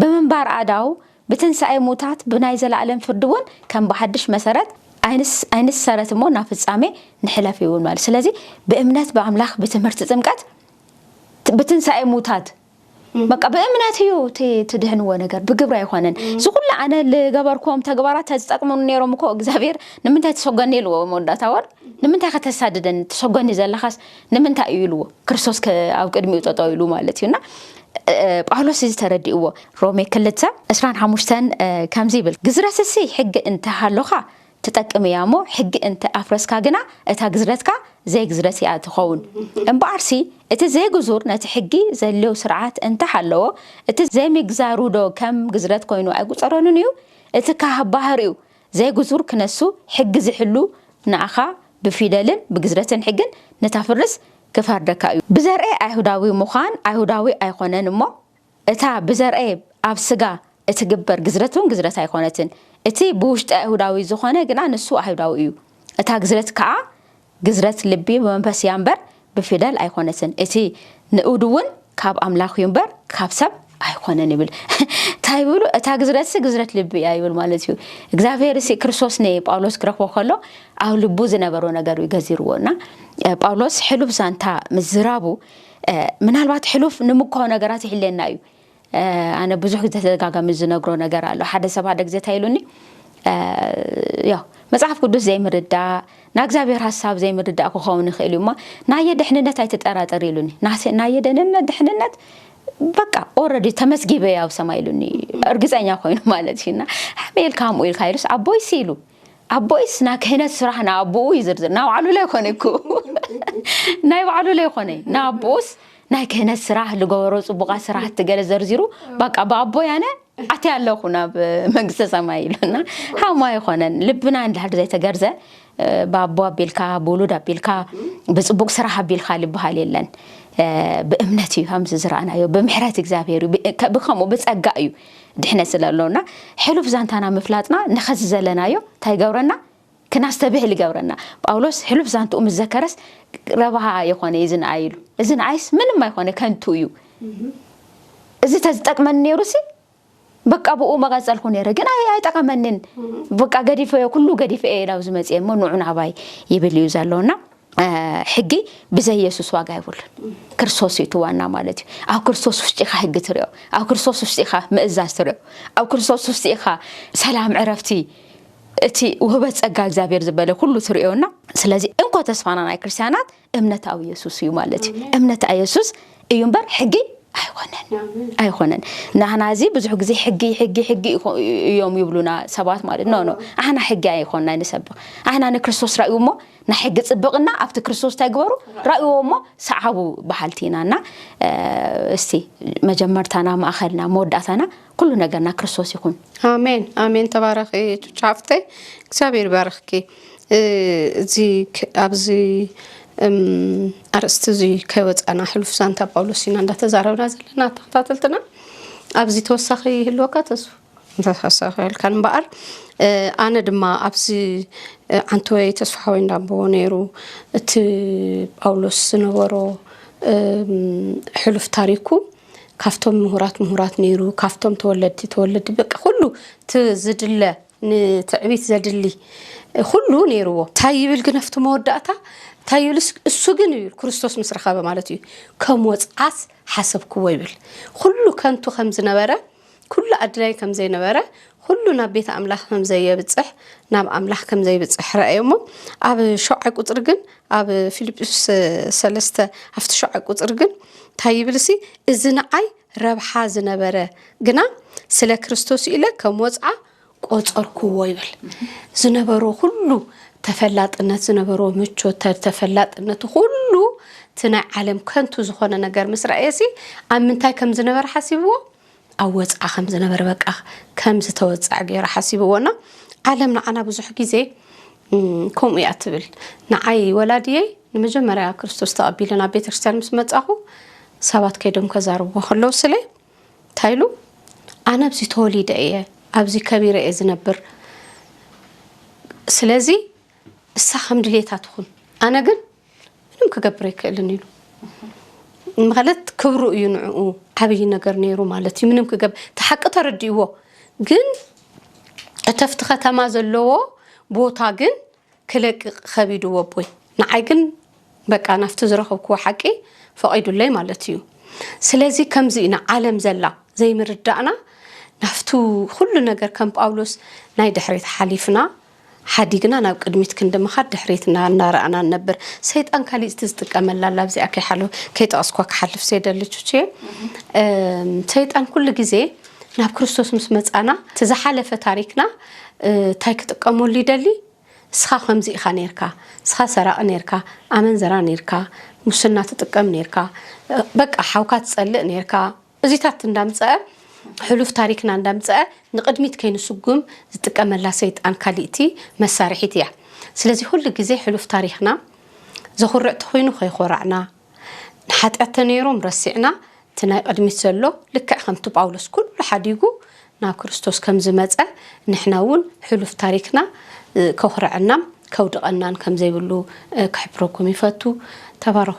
C: ብምንባር ኣእዳው ብትንሳኤ ሙታት ብናይ ዘለኣለም ፍርዲ ውን ከም ብሓድሽ መሰረት ኣይንሰረት እሞ ናብ ፍጻሜ ንሕለፍ ይብል ማለት ስለዚ ብእምነት ብኣምላኽ ብትምህርቲ ጥምቀት ብትንሳኤ ሙታት በቃ ብእምነት እዩ እቲ ትድሕንዎ ነገር ብግብሪ ኣይኮነን እዚ ኩሉ ኣነ ዝገበርክዎም ተግባራት ተዝጠቅሙኒ ነይሮም እኮ እግዚኣብሔር ንምንታይ ተሰጎኒ ኢልዎ መወዳእታ ወር ንምንታይ ከተሳድደኒ ተሰጎኒ ዘለኻስ ንምንታይ እዩ ኢልዎ ክርስቶስ ኣብ ቅድሚኡ ጠጠው ኢሉ ማለት እዩና ጳውሎስ እዚ ተረዲእዎ ሮሜ ክልተ እስራን ሓሙሽተን ከምዚ ይብል ግዝረትሲ ሕጊ እንተሃሎኻ ትጠቅም እያ እሞ ሕጊ እንተ ኣፍረስካ ግና እታ ግዝረትካ ዘይግዝረት እያ እትኸውን። እምበኣርሲ እቲ ዘይግዙር ነቲ ሕጊ ዘልዮ ስርዓት እንተ ሃለዎ እቲ ዘይምግዛሩዶ ከም ግዝረት ኮይኑ ኣይቁጸረሉን እዩ? እቲ ካህ ባህሪኡ ዘይግዙር ክነሱ ሕጊ ዝሕሉ ንኣኻ ብፊደልን ብግዝረትን ሕግን ንተፍርስ ክፈርደካ እዩ። ብዘርኤ ኣይሁዳዊ ምዃን ኣይሁዳዊ ኣይኮነን እሞ እታ ብዘርኣየ ኣብ ስጋ እትግበር ግዝረትውን ግዝረት ኣይኮነትን፣ እቲ ብውሽጢ ኣይሁዳዊ ዝኾነ ግና ንሱ ኣይሁዳዊ እዩ፣ እታ ግዝረት ከኣ ግዝረት ልቢ ብመንፈስ እያ እምበር ብፊደል ኣይኮነትን፣ እቲ ንእዱውን ካብ ኣምላኽ እዩ እምበር ካብ ሰብ ኣይኮነን ይብል። እንታይ ይብሉ? እታ ግዝረትሲ ግዝረት ልቢ እያ ይብል ማለት እዩ። እግዚኣብሔርሲ ክርስቶስ ንጳውሎስ ክረኽቦ ከሎ ኣብ ልቡ ዝነበሮ ነገር እዩ ገዚርዎ እና ጳውሎስ ሕሉፍ ዛንታ ምዝራቡ ምናልባት ሕሉፍ ንምኳው ነገራት ይሕለየና እዩ ኣነ ብዙሕ ግዜ ተደጋጋሚ ዝነግሮ ነገር ኣሎ ሓደ ሰብ ሓደ ግዜ እንታይ ኢሉኒ ያው መጽሓፍ ቅዱስ ዘይምርዳእ ናይ እግዚኣብሔር ሀሳብ ዘይምርዳእ ክኸውን ይኽእል እዩ እሞ ናየ ድሕንነት ኣይትጠራጠር ኢሉኒ ናየ ደህንነት ድሕንነት በቃ ኦረዲ ተመስጊበ ኣብ ሰማይ ኢሉኒ እርግፀኛ ኮይኑ ማለት እዩና ሓመኤል ከምኡ ኢልካ ኢሉስ ኣቦይ ሲሉ ኣቦይስ ናይ ክህነት ስራሕ ንኣቦኡ ይዝርዝር ናይ ባዕሉ ለይኮነ ኩ ናይ ባዕሉ ለይኮነ ንኣቦኡስ ናይ ክህነት ስራሕ ዝገበሮ ፅቡቓት ስራሕቲ ገለ ዘርዚሩ ባቃ ብኣቦ ያነ ኣቲ ኣለኹ ናብ መንግስተ ሰማይ ኢሉና ሃማ ይኾነን ልብና እንድሕር ዘይተገርዘ ብኣቦ ኣቢልካ ብውሉድ ኣቢልካ ብፅቡቕ ስራሕ ኣቢልካ ዝበሃል የለን ብእምነት እዩ ከምዚ ዝረኣናዮ ብምሕረት እግዚኣብሔር እዩ ብከምኡ ብፀጋ እዩ ድሕነት ስለ ኣሎና ሕሉፍ ዛንታና ምፍላጥና ንኸዚ ዘለናዮ እንታይ ይገብረና ክናስተብህል ይገብረና ጳውሎስ ሕሉፍ ዛንትኡ ምስ ዘከረስ ረብሃ ኣይኾነ እዩ ዝንኣይ ኢሉ እዚ ንኣይስ ምንም ኣይኮነ ከንቱ እዩ እዚ ተዝጠቅመኒ ነይሩ ሲ በቃ ብኡ መቐፀልኩ ነይረ ግን ኣይጠቐመኒን በቃ ገዲፈዮ ኩሉ ገዲፈ እየ ናብዚ መፅኤ እሞ ንዑ ናባይ ይብል እዩ ዘሎና ሕጊ ብዘይ የሱስ ዋጋ የብሉን ክርስቶስ እዩ እቲ ዋና ማለት እዩ ኣብ ክርስቶስ ውሽጢ ኢኻ ሕጊ ትሪኦ ኣብ ክርስቶስ ውሽጢ ኢኻ ምእዛዝ ትሪኦ ኣብ ክርስቶስ ውሽጢ ኢኻ ሰላም ዕረፍቲ እቲ ውህበት ጸጋ እግዚኣብሔር ዝበለ ኩሉ ትሪኦና ስለዚ እንኮ ተስፋና ናይ ክርስትያናት እምነት ኣብ የሱስ እዩ ማለት እዩ እምነት ኣብ የሱስ እዩ እምበር ሕጊ ኣይኮነን ኣይኮነን ናህና እዚ ብዙሕ ግዜ ሕጊ ሕጊ ሕጊ እዮም ይብሉና ሰባት ማለት ኖ ኖ ኣህና ሕጊ ኣይኮንና ንሰብኽ ኣህና ንክርስቶስ ራእዩ እሞ ናይ ሕጊ ጽብቕና ኣብቲ ክርስቶስ እንታይ ግበሩ ራእዎ እሞ ሰዓቡ በሃልቲ ኢና እና እስቲ መጀመርታና ማእኸልና መወዳእታና ኩሉ ነገርና ክርስቶስ ይኹን። ኣሜን ኣሜን።
A: ተባረኺ ቹቻ ሓፍተይ፣ እግዚኣብሔር ይባርኽኪ። እ፣ እዚ ክ- ኣብዚ እም፣ ኣርእስቲ እዚ ከይወፃና ሕሉፍ ዛንታ ጳውሎስ ኢና እንዳተዛረብና ዘለና ተኸታተልትና። ኣብዚ ተወሳኺ ይህልወካ ተስፉ እንተተሰኸልካ እምበኣር ኣነ ድማ ኣብዚ ዓንተወይ ተስፋሓወይ እንዳቦ ነይሩ እቲ ጳውሎስ ዝነበሮ ሕሉፍ ታሪኩ ካብቶም ምሁራት ምሁራት ነይሩ ካብቶም ተወለድቲ ተወለድቲ በቂ ኩሉ ዝድለ ንትዕቢት ዘድሊ ኩሉ ነይርዎ እንታይ ይብል ግን ኣብቲ መወዳእታ እንታይ ይብል እሱ ግን ይብል ክርስቶስ ምስ ረኸበ ማለት እዩ ከም ወፅዓት ሓሰብክዎ ይብል ኩሉ ከንቱ ከም ዝነበረ ኩሉ ኣድላይ ከም ዘይነበረ ኩሉ ናብ ቤት ኣምላኽ ከም ዘየብጽሕ ናብ ኣምላኽ ከም ዘይብጽሕ ረኣዮ እሞ ኣብ ሸውዓይ ቁጽሪ ግን ኣብ ፊልጵስ ሰለስተ ኣብቲ ሸውዓይ ቁጽሪ ግን እንታይ ይብል ሲ እዚ ንዓይ ረብሓ ዝነበረ ግና ስለ ክርስቶስ ኢለ ከም ወጽዓ ቆጸርኩዎ ይብል ዝነበሮ ኩሉ ተፈላጥነት ዝነበሮ ምቾት ተፈላጥነቱ ኩሉ እቲ ናይ ዓለም ከንቱ ዝኾነ ነገር ምስ ረኣየሲ ኣብ ምንታይ ከም ዝነበረ ሓሲብዎ ኣብ ወፅዓ ከም ዝነበረ በቃ ከም ዝተወፅዐ ገይሩ ሓሲብዎና ዓለም ንዓና ብዙሕ ግዜ ከምኡ እያ ትብል ንዓይ ወላድየይ ንመጀመርያ ክርስቶስ ተቐቢለ ናብ ቤተክርስትያን ምስ መፃኹ ሰባት ከይዶም ከዛርብዎ ከለዉ ስለ ታይ ኢሉ ኣነ ኣብዚ ተወሊደ እየ ኣብዚ ከቢረ እየ ዝነብር ስለዚ እሳ ከም ድሌታ ትኹን ኣነ ግን ምንም ክገብር ኣይክእልን ኢሉ ማለት ክብሩ እዩ ንዕኡ ዓብይ ነገር ነይሩ ማለት እዩ ምንም ክገብ ተሓቂ ተረዲእዎ ግን እተፍቲ ከተማ ዘለዎ ቦታ ግን ክለቅቅ ከቢዱ ወቦይ ንዓይ ግን በቃ ናፍቲ ዝረኽብክዎ ሓቂ ፈቂዱለይ ማለት እዩ ስለዚ ከምዚ ኢና ዓለም ዘላ ዘይምርዳእና ናፍቱ ኩሉ ነገር ከም ጳውሎስ ናይ ድሕሪት ሓሊፍና ሓዲግና ናብ ቅድሚት ክንዲ ምኻድ ድሕሪትና እናረኣና ንነብር ሰይጣን ካሊእቲ ዝጥቀመላ ኣላ ኣብዚኣ ከይሓለወ ከይጠቐስኳ ክሓልፍ ዘይደሊ ቹችየ ሰይጣን ኩሉ ግዜ ናብ ክርስቶስ ምስ መጻና እቲ ዝሓለፈ ታሪክና ታይ ክጥቀመሉ ይደሊ ስኻ ከምዚ ኢኻ ነርካ ስኻ ሰራቂ ነርካ ኣመንዝራ ነርካ ሙስና ትጥቀም ነርካ በቃ ሓውካ ትጸልእ ነርካ እዚታት እንዳምጸአ ሕሉፍ ታሪክና እንዳምጸአ ንቅድሚት ከይንስጉም ዝጥቀመላ ሰይጣን ካሊእቲ መሳርሒት እያ ስለዚ ኩሉ ግዜ ሕሉፍ ታሪክና ዘኹርዕ ተኹይኑ ከይኾራዕና ንሓጢኣት ተነይሮም ረሲዕና እቲ ናይ ቕድሚት ዘሎ ልክዕ ከምቲ ጳውሎስ ኩሉ ሓዲጉ ናብ ክርስቶስ ከም ዝመጸ ንሕና እውን ሕሉፍ ታሪክና ከኹርዐናም ከውድቐናን ከም ዘይብሉ ክሕብረኩም ይፈቱ ተባረኹ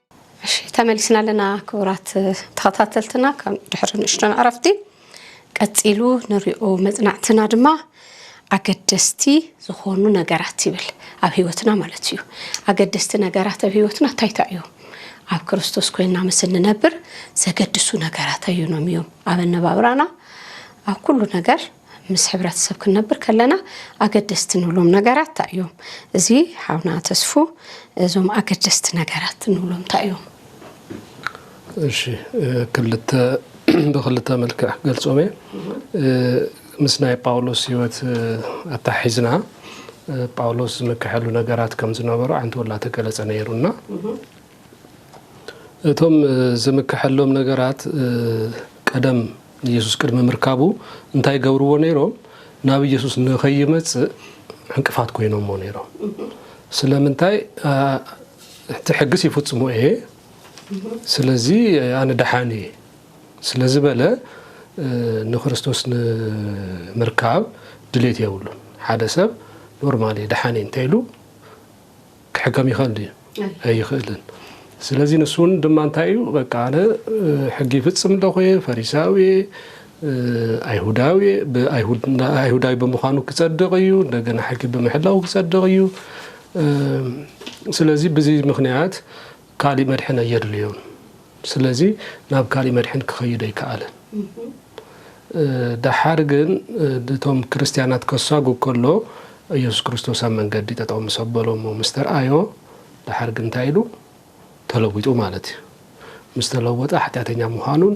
A: እሺ ተመሊስና ኣለና ክቡራት ተኸታተልትና ካብ ድሕሪ ንእሽቶን ዕረፍቲ ቀፂሉ ንሪኦ መፅናዕትና ድማ ኣገደስቲ ዝኾኑ ነገራት ይብል ኣብ ህይወትና ማለት እዩ ኣገደስቲ ነገራት ኣብ ህይወትና እንታይ እንታይ እዮም ኣብ ክርስቶስ ኮይና ምስ እንነብር ዘገድሱ ነገራት ኣዩኖም እዮም ኣብ ኣነባብራና ኣብ ኩሉ ነገር ምስ ሕብረተሰብ ክንነብር ከለና ኣገደስቲ ንብሎም ነገራት እንታይ እዮም? እዚ ሓውና ተስፉ እዞም ኣገደስቲ ነገራት ንብሎም እንታይ እዮም?
B: እሺ ክልተ ብክልተ መልክዕ ክገልጾም እየ ምስ ናይ ጳውሎስ ህይወት ኣተሓሒዝና ጳውሎስ ዝምክሐሉ ነገራት ከም ዝነበሩ ዓንተወላ ተገለጸ ነይሩና እቶም ዝምከሐሎም ነገራት ቀደም ንየሱስ ቅድሚ ምርካቡ እንታይ ገብርዎ ነይሮም? ናብ ኢየሱስ ንኸይመጽእ ዕንቅፋት ኮይኖሞ ነይሮም። ስለምንታይ? እቲ ሕግስ ይፍጽሞ እየ፣ ስለዚ ኣነ ደሓን እየ ስለ ዝበለ ንክርስቶስ ንምርካብ ድሌት የብሉን። ሓደ ሰብ ኖርማል እየ ደሓን እየ እንተኢሉ ክሕከም ይኸእል ድዩ ኣይኸእልን ስለዚ ንሱውን ድማ እንታይ እዩ በቃ ኣነ ሕጊ ይፍፅም ኣለኹ እየ ፈሪሳዊ እየ ኣይሁዳዊ ኣይሁዳዊ ብምዃኑ ክፀድቕ እዩ እንደገና ሕጊ ብምሕላው ክፀድቕ እዩ ስለዚ ብዚ ምክንያት ካሊእ መድሕን ኣየድልዮን ስለዚ ናብ ካሊእ መድሕን ክኸይድ ኣይከኣለን ደሓር ግን እቶም ክርስትያናት ከሳጉ ከሎ ኢየሱስ ክርስቶስ ኣብ መንገዲ ጠጠው ምስ ኣበሎሞ ምስ ተርኣዮ ደሓር ግን እንታይ ኢሉ ተለዊጡ ማለት እዩ ምስ ተለወጠ ሓጢኣተኛ ምዃኑን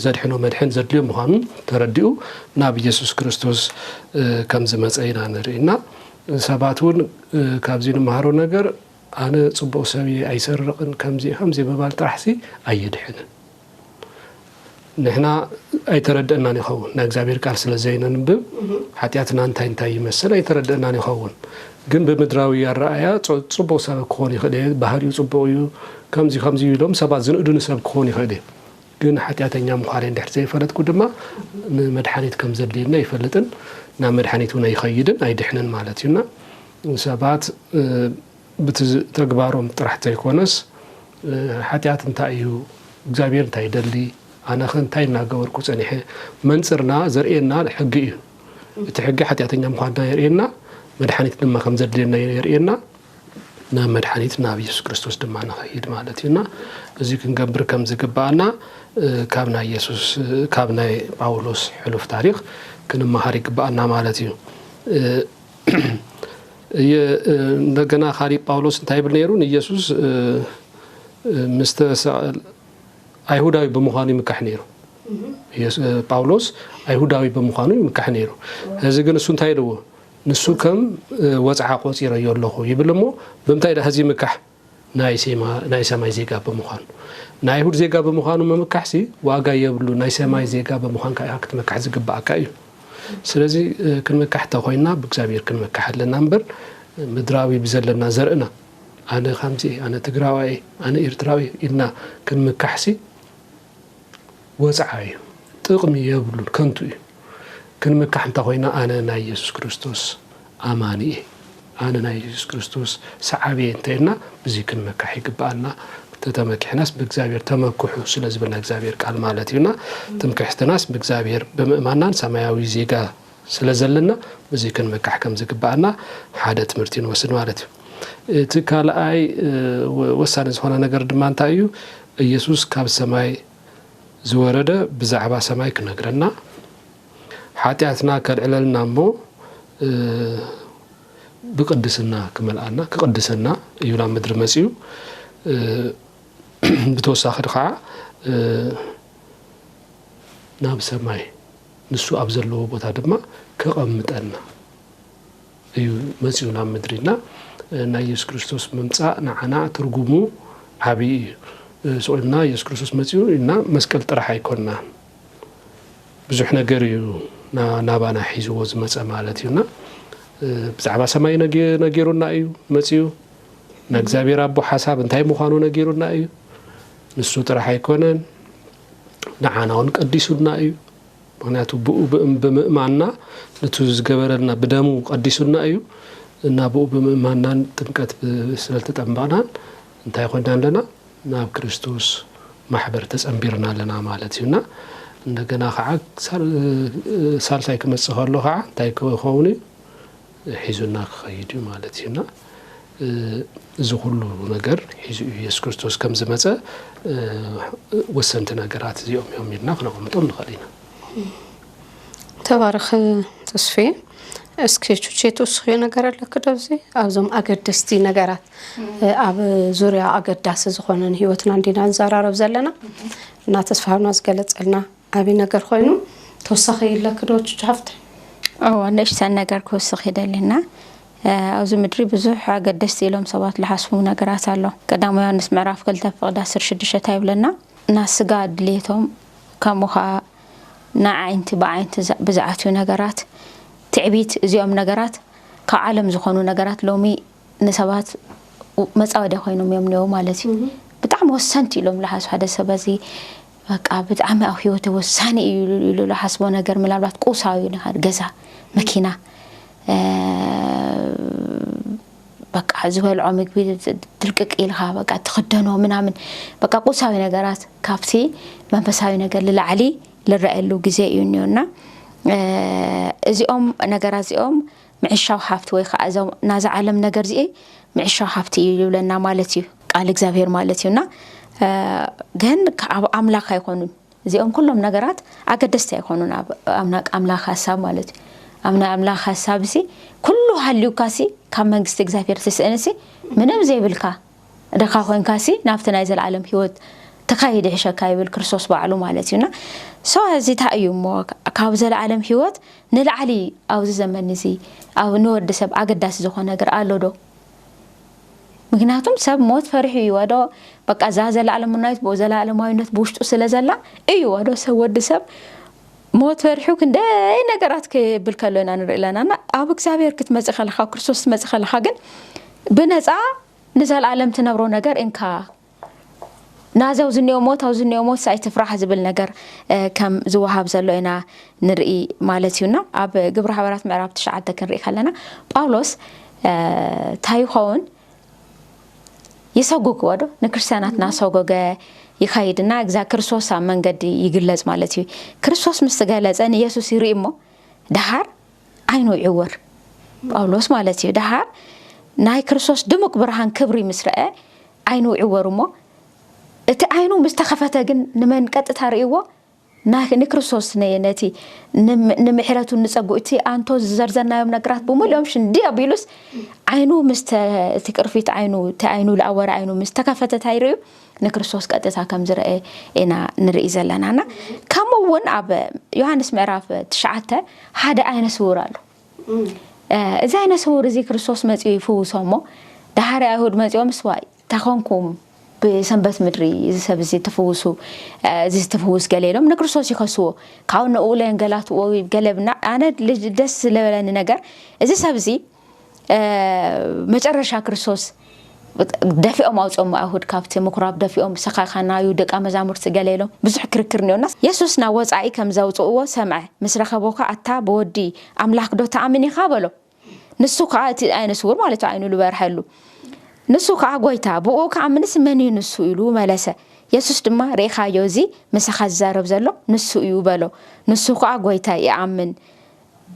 B: ዘድሕኖ መድሕን ዘድልዮ ምዃኑ ተረዲኡ ናብ ኢየሱስ ክርስቶስ ከም ዝመፀ ኢና ንርኢ እና ሰባት እውን ካብዚ ንመሃሮ ነገር ኣነ ጽቡቅ ሰብ እየ ኣይሰርቅን ከምዚ ከምዚ ምባል ጥራሕ ሲ ኣየድሕንን ንሕና ኣይተረደእናን ይኸውን ናይ እግዚኣብሔር ቃል ስለ ዘይነንብብ ሓጢኣትና እንታይ እንታይ ይመስል ኣይተረደእናን ይኸውን ግን ብምድራዊ ኣረኣያ ጽቡቅ ሰብ ክኾን ይኽእል እየ ባህሪኡ ጽቡቅ እዩ ከምዚ ከምዚ ኢሎም ሰባት ዝንእዱኒ ሰብ ክኾን ይኽእል እየ ግን ሓጢኣተኛ ምዃነይ እንድሕር ዘይፈለጥኩ ድማ ንመድሓኒት ከም ዘድልየኒ ኣይፈልጥን ናብ መድሓኒት እውን ኣይኸይድን ኣይድሕንን ማለት እዩና ንሰባት ብቲ ተግባሮም ጥራሕ ተይኮነስ ሓጢኣት እንታይ እዩ፣ እግዚኣብሄር እንታይ ይደሊ፣ ኣነኸ እንታይ እናገበርኩ ፀኒሐ መንፅርና ዘርእየና ሕጊ እዩ። እቲ ሕጊ ሓጢኣተኛ ምዃንና የርእየና፣ መድሓኒት ድማ ከም ዘድልየና የርእየና። ናብ መድሓኒት ናብ ኢየሱስ ክርስቶስ ድማ ንኸይድ ማለት እዩ እና እዚ ክንገብር ከም ዝግባኣና ካብ ናይ ኢየሱስ ካብ ናይ ጳውሎስ ሕሉፍ ታሪክ ክንመሃር ይግባኣና ማለት እዩ። እንደገና ካሊእ ጳውሎስ እንታይ ይብል ነይሩ ንኢየሱስ ምስተሰቐል ኣይሁዳዊ ብምዃኑ ይምካሕ ነይሩ ጳውሎስ ኣይሁዳዊ ብምዃኑ ይምካሕ ነይሩ እዚ ግን እሱ እንታይ ኢልዎ ንሱ ከም ወፅዓ ቆፂረዮ ኣለኹ ይብል እሞ ብምንታይ ዳ ህዚ ይምካሕ ናይ ሴማ ናይ ሰማይ ዜጋ ብምዃኑ። ናይ ኣይሁድ ዜጋ ብምዃኑ ምምካሕሲ ዋጋ የብሉን፣ ናይ ሰማይ ዜጋ ብምዃንካ ኢኻ ክትመካሕ ዝግብኣካ እዩ። ስለዚ ክንመካሕ እንተኾይንና ብእግዚኣብሔር ክንመካሕ ኣለና እምበር ምድራዊ ብዘለና ዘርእና ኣነ ከምዚ እየ፣ ኣነ ትግራዋይ እየ፣ ኣነ ኤርትራዊ እየ ኢልና ክንምካሕሲ ወጽዓ እዩ ጥቅሚ የብሉን ከንቱ እዩ ክንምካሕ እንተኮይና ኣነ ናይ የሱስ ክርስቶስ ኣማኒ እየ ኣነ ናይ የሱስ ክርስቶስ ሰዓቢ እየ እንተኢልና ብዚ ክንምካሕ ይግብኣና ተተመኪሕናስ ብእግዚኣብሔር ተመክሑ ስለዝብልና እግዚኣብሔር ቃል ማለት እዩና ትምክሕትናስ ብእግዚኣብሔር ብምእማናን ሰማያዊ ዜጋ ስለ ዘለና ብዙይ ክንመካሕ ከም ዝግባኣና ሓደ ትምህርቲ ንወስድ ማለት እዩ እቲ ካልኣይ ወሳኒ ዝኾነ ነገር ድማ እንታይ እዩ ኢየሱስ ካብ ሰማይ ዝወረደ ብዛዕባ ሰማይ ክነግረና ሓጢኣትና ከልዕለልና እሞ ብቅድስና ክመልኣና ክቅድሰና እዩ ናብ ምድሪ መፅኡ ብተወሳኺ ከዓ ናብ ሰማይ ንሱ ኣብ ዘለዎ ቦታ ድማ ከቐምጠና እዩ መጺኡ ናብ ምድሪ እና ናይ ኢየሱስ ክርስቶስ ምምጻእ ንዓና ትርጉሙ ዓብዪ እዩ። ስቑልና ኢየሱስ ክርስቶስ መጺኡ እና መስቀል ጥራሕ ኣይኮናን ብዙሕ ነገር እዩ ናባና ሒዝዎ ዝመጸ ማለት እዩና ብዛዕባ ሰማይ ነጊሩና እዩ መጺኡ ናይ እግዚኣብሔር ኣቦ ሓሳብ እንታይ ምዃኑ ነጊሩና እዩ ንሱ ጥራሕ ኣይኮነን ንዓናውን ቀዲሱና እዩ ምክንያቱ ብኡ ብምእማንና ንቱ ዝገበረልና ብደሙ ቀዲሱና እዩ እና ብኡ ብምእማንናን ጥምቀት ስለተጠምበቕናን እንታይ ኮና ኣለና ናብ ክርስቶስ ማሕበር ተጸንቢርና ኣለና ማለት እዩና እንደገና ከዓ ሳልሳይ ክመጽእ ከሎ ከዓ እንታይ ክኸውን እዩ ሒዙና ክኸይድ እዩ ማለት እዩ እና እዚ ኩሉ ነገር ሒዙ እዩ የሱስ ክርስቶስ ከም ዝመፀ ወሰንቲ ነገራት እዚኦም እዮም ኢልና ክነቐምጦም ንኽእል ኢና
A: ተባረኽ ተስፌ እስኪ ቹቼ ትውስኽዮ ነገር ኣለክ ዶብዚ ኣብዞም ኣገደስቲ ነገራት ኣብ ዙርያ ኣገዳሲ ዝኾነን ሂወትና እንዲና ንዘራረብ ዘለና እና ተስፋና ዝገለፀልና ዓቢ ነገር ኮይኑ ተወሳኺ ይለኪ ዶ ቹቹ ሓፍተይ? እወ
C: ንእሽተን ነገር ክውስኽ ይደሊ እና ኣብዚ ምድሪ ብዙሕ ኣገደስቲ ኢሎም ሰባት ልሓስቡ ነገራት ኣሎ ቀዳማዊ ዮሃንስ ምዕራፍ ክልተ ፍቕዲ ዓሰርተ ሽዱሽተ እንታይ ይብለና ና ስጋ ድልየቶም ከምኡ ኸኣ ና ዓይንቲ ብዓይንቲ ብዝዓትዩ ነገራት ትዕቢት እዚኦም ነገራት ካብ ዓለም ዝኾኑ ነገራት ሎሚ ንሰባት መጻወድያ ኮይኖም እዮም እኔዉ ማለት እዩ ብጣዕሚ ወሰንቲ ኢሎም ልሓሱ ሓደ ሰብ በዚ በቃ ብጣዕሚ ኣብ ህይወተ ወሳኒ እዩ ኢሉ ዝሓስቦ ነገር ምናልባት ቁሳዊ ነገር ገዛ መኪና በቃ ዝበልዖ ምግቢ ድርቅቅ ኢልካ በቃ ትክደኖ ምናምን በቃ ቁሳዊ ነገራት ካብቲ መንፈሳዊ ነገር ልላዕሊ ልረኣየሉ ግዜ እዩ እኒኦና እዚኦም ነገራት እዚኦም ምዕሻው ሃብቲ ወይ ከኣ እዞም ናዛ ዓለም ነገር ዚኤይ ምዕሻው ሃብቲ እዩ ልብለና ማለት እዩ ቃል እግዚኣብሔር ማለት እዩ እና ግን ከኣብ ኣምላኽ ኣይኮኑን እዚኦም ኩሎም ነገራት ኣገደስቲ ኣይኮኑን ኣብ ኣምላኽ ሀሳብ ማለት እዩ ኣብ ናይ ኣምላኽ ሀሳብ ሲ ኩሉ ሃልዩካ ሲ ካብ መንግስቲ እግዚኣብሔር ትስእን ሲ ምንም ዘይብልካ ድኻ ኮይንካሲ ናብቲ ናይ ዘልኣለም ሂወት ትከይድ ይሕሸካ ይብል ክርስቶስ ባዕሉ ማለት እዩ እና ሰው እዚ ታይ እዩ እሞ ካብ ዘልኣለም ሂወት ንላዕሊ ኣብዚ ዘመን እዚ ኣብ ንወዲ ሰብ ኣገዳሲ ዝኾነ ነገር ኣሎ ዶ ምክንያቱም ሰብ ሞት ፈሪሑ እዩ ወዶ በቃ እዛ ዘልኣለምናዊት ዘልኣለማዊነት ብውሽጡ ስለ ዘላ እዩ ወዶ ሰብ ወዲ ሰብ ሞት ፈሪሑ ክንደይ ነገራት ክብል ከሎ ኢና ንርኢ ኣለና እና ኣብ እግዚኣብሔር ክትመጽእ ከለካ ኣብ ክርስቶስ ክትመጽእ ከለካ ግን ብነጻ ንዘለኣለም ትነብሮ ነገር እንካ ናዚ ኣብዚ እኒኦ ሞት ኣብዚ እኒኦ ሞት ሳይ ትፍራሕ ዝብል ነገር ከም ዝወሃብ ዘሎ ኢና ንርኢ ማለት እዩና ኣብ ግብረ ሓበራት ምዕራብ ትሽዓተ ክንርኢ ከለና ጳውሎስ እንታይ ይኸውን ይሰጉግዎ ዶ ንክርስትያናት ናሰጎገ ይኸይድ እና እግዛ ክርስቶስ ኣብ መንገዲ ይግለጽ ማለት እዩ ክርስቶስ ምስ ገለጸ ንየሱስ ይርኢ እሞ ደሃር ዓይኑ ይዕወር ጳውሎስ ማለት እዩ ደሃር ናይ ክርስቶስ ድሙቅ ብርሃን ክብሪ ምስ ረአ ዓይኑ ይዕወር እሞ እቲ ዓይኑ ምስ ተኸፈተ ግን ንመን ቀጥታ ርእይዎ ንክርስቶስ ነቲ ንምሕረቱን ንጸግኡ እቲ ኣንቶ ዝዘርዘርናዮም ነገራት ብምልኦም ሽንዲ ኣቢሉስ ዓይኑ ምስ እቲ ቅርፊት ዓይኑ እቲ ዓይኑ ዝኣወረ ዓይኑ ምስ ተከፈተት ኣይርእዩ ንክርስቶስ ቀጥታ ከም ዝረአ ኢና ንርኢ ዘለናና ከምኡ እውን ኣብ ዮሃንስ ምዕራፍ ትሽዓተ ሓደ ዓይነ ስውር ኣሎ እዚ ዓይነ ስውር እዚ ክርስቶስ መፂኡ ይፍውሶ እሞ ዳሓሪ ኣይሁድ መፂኦም ስዋይ ታይ ኾንኩም ብሰንበት ምድሪ እዚ ሰብ እዚ እተፍውሱ እዚ ዝተፍውስ ገለ ኢሎም ንክርስቶስ ይኸስዎ ካብኡ ንኡ ለንገላትዎ ገለ ብና ኣነ ደስ ስለበለኒ ነገር እዚ ሰብ እዚ መጨረሻ ክርስቶስ ደፊኦም ኣውፅኦም ኣይሁድ ካብቲ ምኩራብ ደፊኦም ሰኻኻናዩ ደቂ መዛሙርቲ ገለ ኢሎም ብዙሕ ክርክር እኒኦና የሱስ ናብ ወፃኢ ከም ዘውፅእዎ ሰምዐ ምስ ረኸቦ ከዓ ኣታ ብወዲ ኣምላክ ዶ ተኣምን ኢኻ በሎ ንሱ ከዓ እቲ ዓይነ ስውር ማለት ዓይኑ ዝበርሐሉ ንሱ ከዓ ጎይታ ብኡ ክኣምንስ መን እዩ ንሱ ኢሉ መለሰ የሱስ ድማ ርኢኻዮ እዚ ምሳኻ ዝዛረብ ዘሎ ንሱ እዩ በሎ ንሱ ከዓ ጎይታ ይኣምን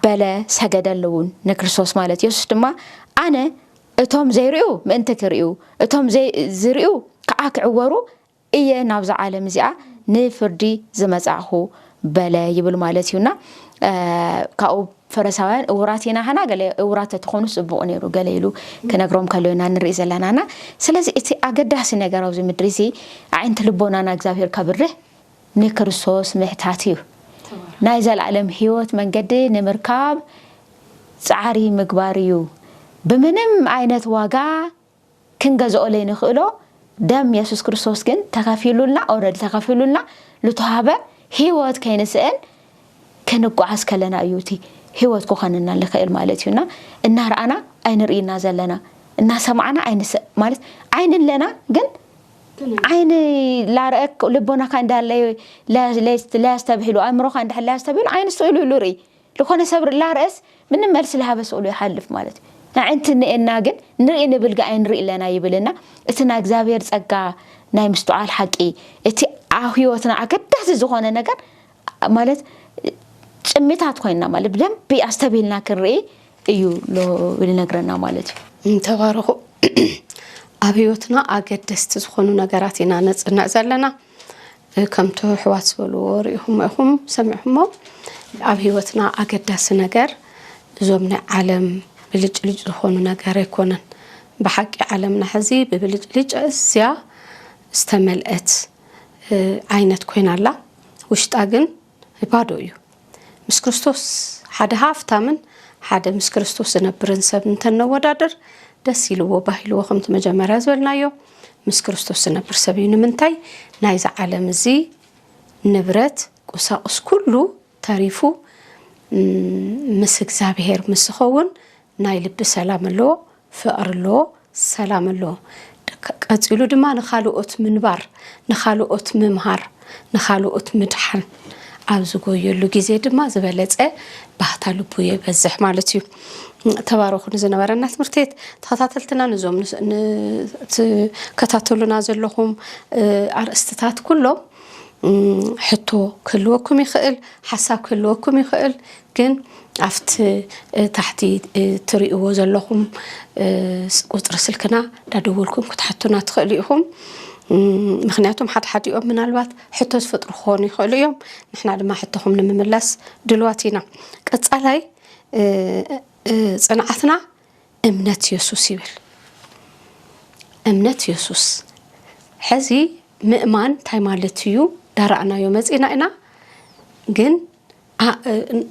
C: በለ ሰገደለውን ንክርስቶስ ማለት የሱስ ድማ ኣነ እቶም ዘይርእዩ ምእንቲ ክርእዩ እቶም ዝርእዩ ከዓ ክዕወሩ እየ ናብዛ ዓለም እዚኣ ንፍርዲ ዝመጻእኩ በለ ይብል ማለት እዩ እና ካብኡ ፈረሳውያን እውራት ኢና ሃና ገለ እውራት ተትኾኑ ጽቡቕ ነይሩ ገለ ኢሉ ክነግሮም ከሎ ኢና ንርኢ ዘለናና ስለዚ እቲ ኣገዳሲ ነገር ኣብዚ ምድሪ እዚ ኣዒንቲ ልቦናና እግዚኣብሄር ከብርህ ንክርስቶስ ምሕታት እዩ ናይ ዘለኣለም ህይወት መንገዲ ንምርካብ ጻዕሪ ምግባር እዩ ብምንም ዓይነት ዋጋ ክንገዝኦ ለይንክእሎ ደም የሱስ ክርስቶስ ግን ተከፊሉልና ኦረዲ ተከፊሉልና ልተዋህበ ህይወት ከይንስእን ክንጓዓዝ ከለና እዩ እቲ ህይወት ክኾነና ልክእል ማለት እዩ እና እናርኣና ኣይንርእና ዘለና እናሰማዕና ኣይንሰ ማለት ዓይን ኣለና ግን ዓይን ላረአክ ልቦናካ እንዳለ ለያስተብሂሉ ኣእምሮካ እንድሕር ለያስተብሂሉ ዓይን ስእሉ ኢሉ ርኢ ልኾነ ሰብ ርላርስ ምንም መልስ ልሃበ ስእሉ ይሓልፍ ማለት እዩ። ኣዕንቲ እኔኤና ግን ንርኢ ንብል ግኣይ ንርኢ ኣለና ይብል እና እቲ ናይ እግዚኣብሔር ጸጋ ናይ ምስትዓል ሓቂ እቲ ኣብ ሕይወትና ኣገዳሲ ዝኾነ ነገር ማለት ጭሚታት ኮይንና ማለት ብደንቢ ኣስተብሂልና ክንርኢ እዩ ልነግረና ማለት እዩ እንተባረኹ
A: ኣብ ህይወትና ኣገደስቲ ዝኾኑ ነገራት ኢና ነጽንዕ ዘለና ከምቲ ኣሕዋት ዝበልዎ ሪኢኹሞ ኢኹም ሰሚዕኹሞ ኣብ ሂወትና ኣገዳሲ ነገር እዞም ናይ ዓለም ብልጭልጭ ዝኾኑ ነገር ኣይኮነን ብሓቂ ዓለምና ሕዚ ብብልጭልጭ እዝያ ዝተመልአት ዓይነት ኮይና ኣላ ውሽጣ ግን ባዶ እዩ። ምስ ክርስቶስ ሓደ ሃፍታምን ሓደ ምስ ክርስቶስ ዝነብርን ሰብ እንተነወዳድር ደስ ኢልዎ ባሂልዎ ከምቲ መጀመርያ ዝበልናዮ ምስ ክርስቶስ ዝነብር ሰብ እዩ። ንምንታይ ናይዚ ዓለም እዚ ንብረት ቁሳቁስ ኩሉ ተሪፉ ምስ እግዚኣብሄር ምስ ዝኸውን ናይ ልቢ ሰላም ኣሎ፣ ፍቕሪ ኣሎ፣ ሰላም ኣሎ። ቀጺሉ ድማ ንኻልኦት ምንባር፣ ንኻልኦት ምምሃር፣ ንኻልኦት ምድሓን ኣብ ዝጎየሉ ግዜ ድማ ዝበለጸ ባህታ ልቡ የበዝሕ ማለት እዩ። ተባረኹ ንዝነበረና ትምህርትት ተኸታተልትና ንዞም ትከታተሉና ዘለኹም ኣርእስትታት ኩሎም ሕቶ ክህልወኩም ይኽእል፣ ሓሳብ ክህልወኩም ይኽእል፣ ግን ኣብቲ ታሕቲ ትሪእዎ ዘለኹም ቁፅሪ ስልክና ዳደወልኩም ክትሓቱና ትኽእሉ ኢኹም ምክንያቱም ሓድሓዲኦም ምናልባት ሕቶ ዝፈጥሩ ክኾኑ ይኽእሉ እዮም ንሕና ድማ ሕቶኹም ንምምላስ ድልዋት ኢና ቀፃላይ ፅንዓትና እምነት የሱስ ይብል እምነት የሱስ ሕዚ ምእማን እንታይ ማለት እዩ ዳራእናዮ መፂና ኢና ግን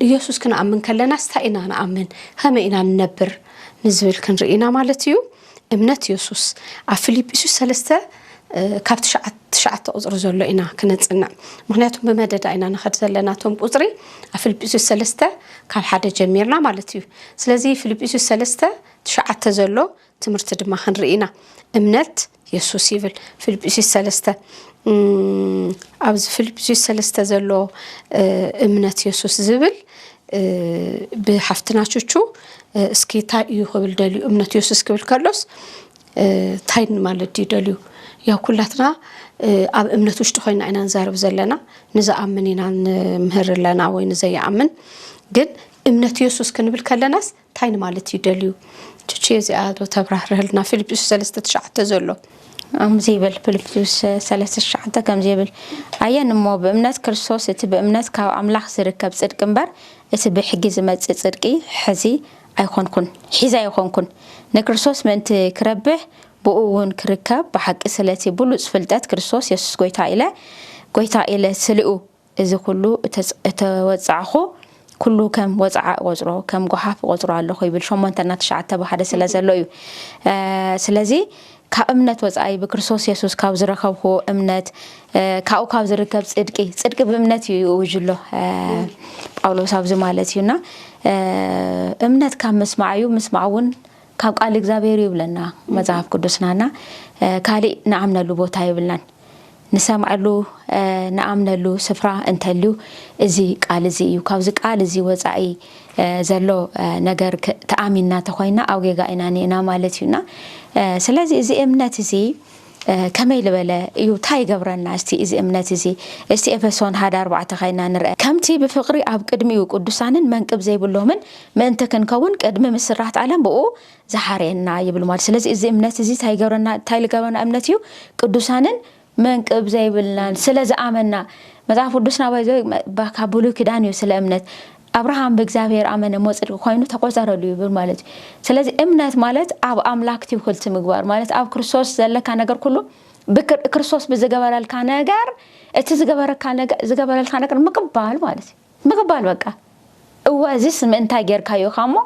A: ኢየሱስ ክንኣምን ከለናስ እንታይ ኢና ንኣምን ከመይ ኢና ንነብር ንዝብል ክንርኢ ኢና ማለት እዩ እምነት ኢየሱስ ኣብ ፊልጵስዩስ ሰለስተ ካብ ትሽዓተ ቁፅሪ ዘሎ ኢና ክነፅንዕ ምክንያቱም ብመደዳ ኢና ንኸድ ዘለና እቶም ቁፅሪ ኣብ ፊልጵስዩስ ሰለስተ ካብ ሓደ ጀሚርና ማለት እዩ ስለዚ ፊልጵስዩስ ሰለስተ ትሽዓተ ዘሎ ትምህርቲ ድማ ክንርኢ ኢና እምነት የሱስ ይብል ፊልጵስዩስ ሰለስተ ኣብዚ ፊልጵስዩስ ሰለስተ ዘሎ እምነት የሱስ ዝብል ብሓፍትና ቹቹ እስኪ እንታይ እዩ ክብል ደልዩ እምነት የሱስ ክብል ከሎስ እንታይ ማለት ድዩ ደልዩ ያው ኩላትና ኣብ እምነት ውሽጢ ኮይና ኢና ንዛረብ ዘለና ንዝኣምን ኢና ንምህር ኣለና ወይ ንዘይኣምን ግን እምነት የሱስ ክንብል ከለናስ ታይ ንማለት እዩ ደልዩ ቹቹየ እዚኣ ዶ ተብራህርሀልና ፊልጵስዩስ ሰለስተ ትሽዓተ ዘሎ። ኣምዚ ይብል
C: ፍልጵስዩስ ሰለስተ ትሽዓተ ከምዚ ይብል ኣየን እሞ ብእምነት ክርስቶስ እቲ ብእምነት ካብ ኣምላኽ ዝርከብ ጽድቂ እምበር እቲ ብሕጊ ዝመጽእ ጽድቂ ሕዚ ኣይኮንኩን ሒዘ ኣይኮንኩን ንክርስቶስ ምእንቲ ክረብሕ ብእኡ እውን ክርከብ ብሓቂ ስለቲ ብሉጽ ፍልጠት ክርስቶስ የሱስ ጎይታ ኢለ ጎይታ ኢለ ስልኡ እዚ ኩሉ እተወጻዕኩ ኩሉ ከም ወጽዓ እቆጽሮ ከም ጎሓፍ እቆጽሮ ኣለኹ ይብል ሸሞንተ እና ትሽዓተ ብሓደ ስለ ዘሎ እዩ ስለዚ ካብ እምነት ወጻኢ ብክርስቶስ የሱስ ካብ ዝረከብኩዎ እምነት ካብኡ ካብ ዝርከብ ጽድቂ ጽድቂ ብእምነት እዩ ይእውጅሎ ጳውሎስ ኣብዚ ማለት እዩና እምነት ካብ ምስማዕ እዩ ምስማዕ እውን ካብ ቃል እግዚኣብሔር ይብለና መጽሓፍ ቅዱስናና ካሊእ ንኣምነሉ ቦታ ይብልናን ንሰምዐሉ ንኣምነሉ ስፍራ እንተልዩ እዚ ቃል እዚ እዩ። ካብዚ ቃል እዚ ወጻኢ ዘሎ ነገር ተኣሚንና ተኾይና ኣብ ጌጋ ኢና ኒእና ማለት እዩ እና ስለዚ እዚ እምነት እዚ ከመይ ልበለ እዩ እንታይ ይገብረና እስቲ እዚ እምነት እዚ እስቲ ኤፌሶን ሓደ ኣርባዕተ ከይና ንርአ ከምቲ ብፍቕሪ ኣብ ቅድሚኡ ቅዱሳንን መንቅብ ዘይብሎምን ምእንቲ ክንከውን ቅድሚ ምስራት ዓለም ብኡ ዝሓርየና ይብል ማለት ስለዚ እዚ እምነት እዚ እንታይ ይገብረና እንታይ ልገብረና እምነት እዩ ቅዱሳንን መንቅብ ዘይብልናን ስለ ዝኣመና መጽሓፍ ቅዱስና ባይዘ ካብ ብሉይ ኪዳን እዩ ስለ እምነት ኣብርሃም ብእግዚኣብሔር ኣመነ እሞ ጽድቂ ኮይኑ ተቆጸረሉ ይብል ማለት እዩ ስለዚ እምነት ማለት ኣብ ኣምላክ ትውክልቲ ምግባር ማለት ኣብ ክርስቶስ ዘለካ ነገር ኩሉ ክርስቶስ ብዝገበረልካ ነገር እቲ ዝገበረልካ ነገር ምቅባል ማለት እዩ ምቕባል በቃ እወ እዚስ ምእንታይ ጌርካዮ ኢኻ እሞ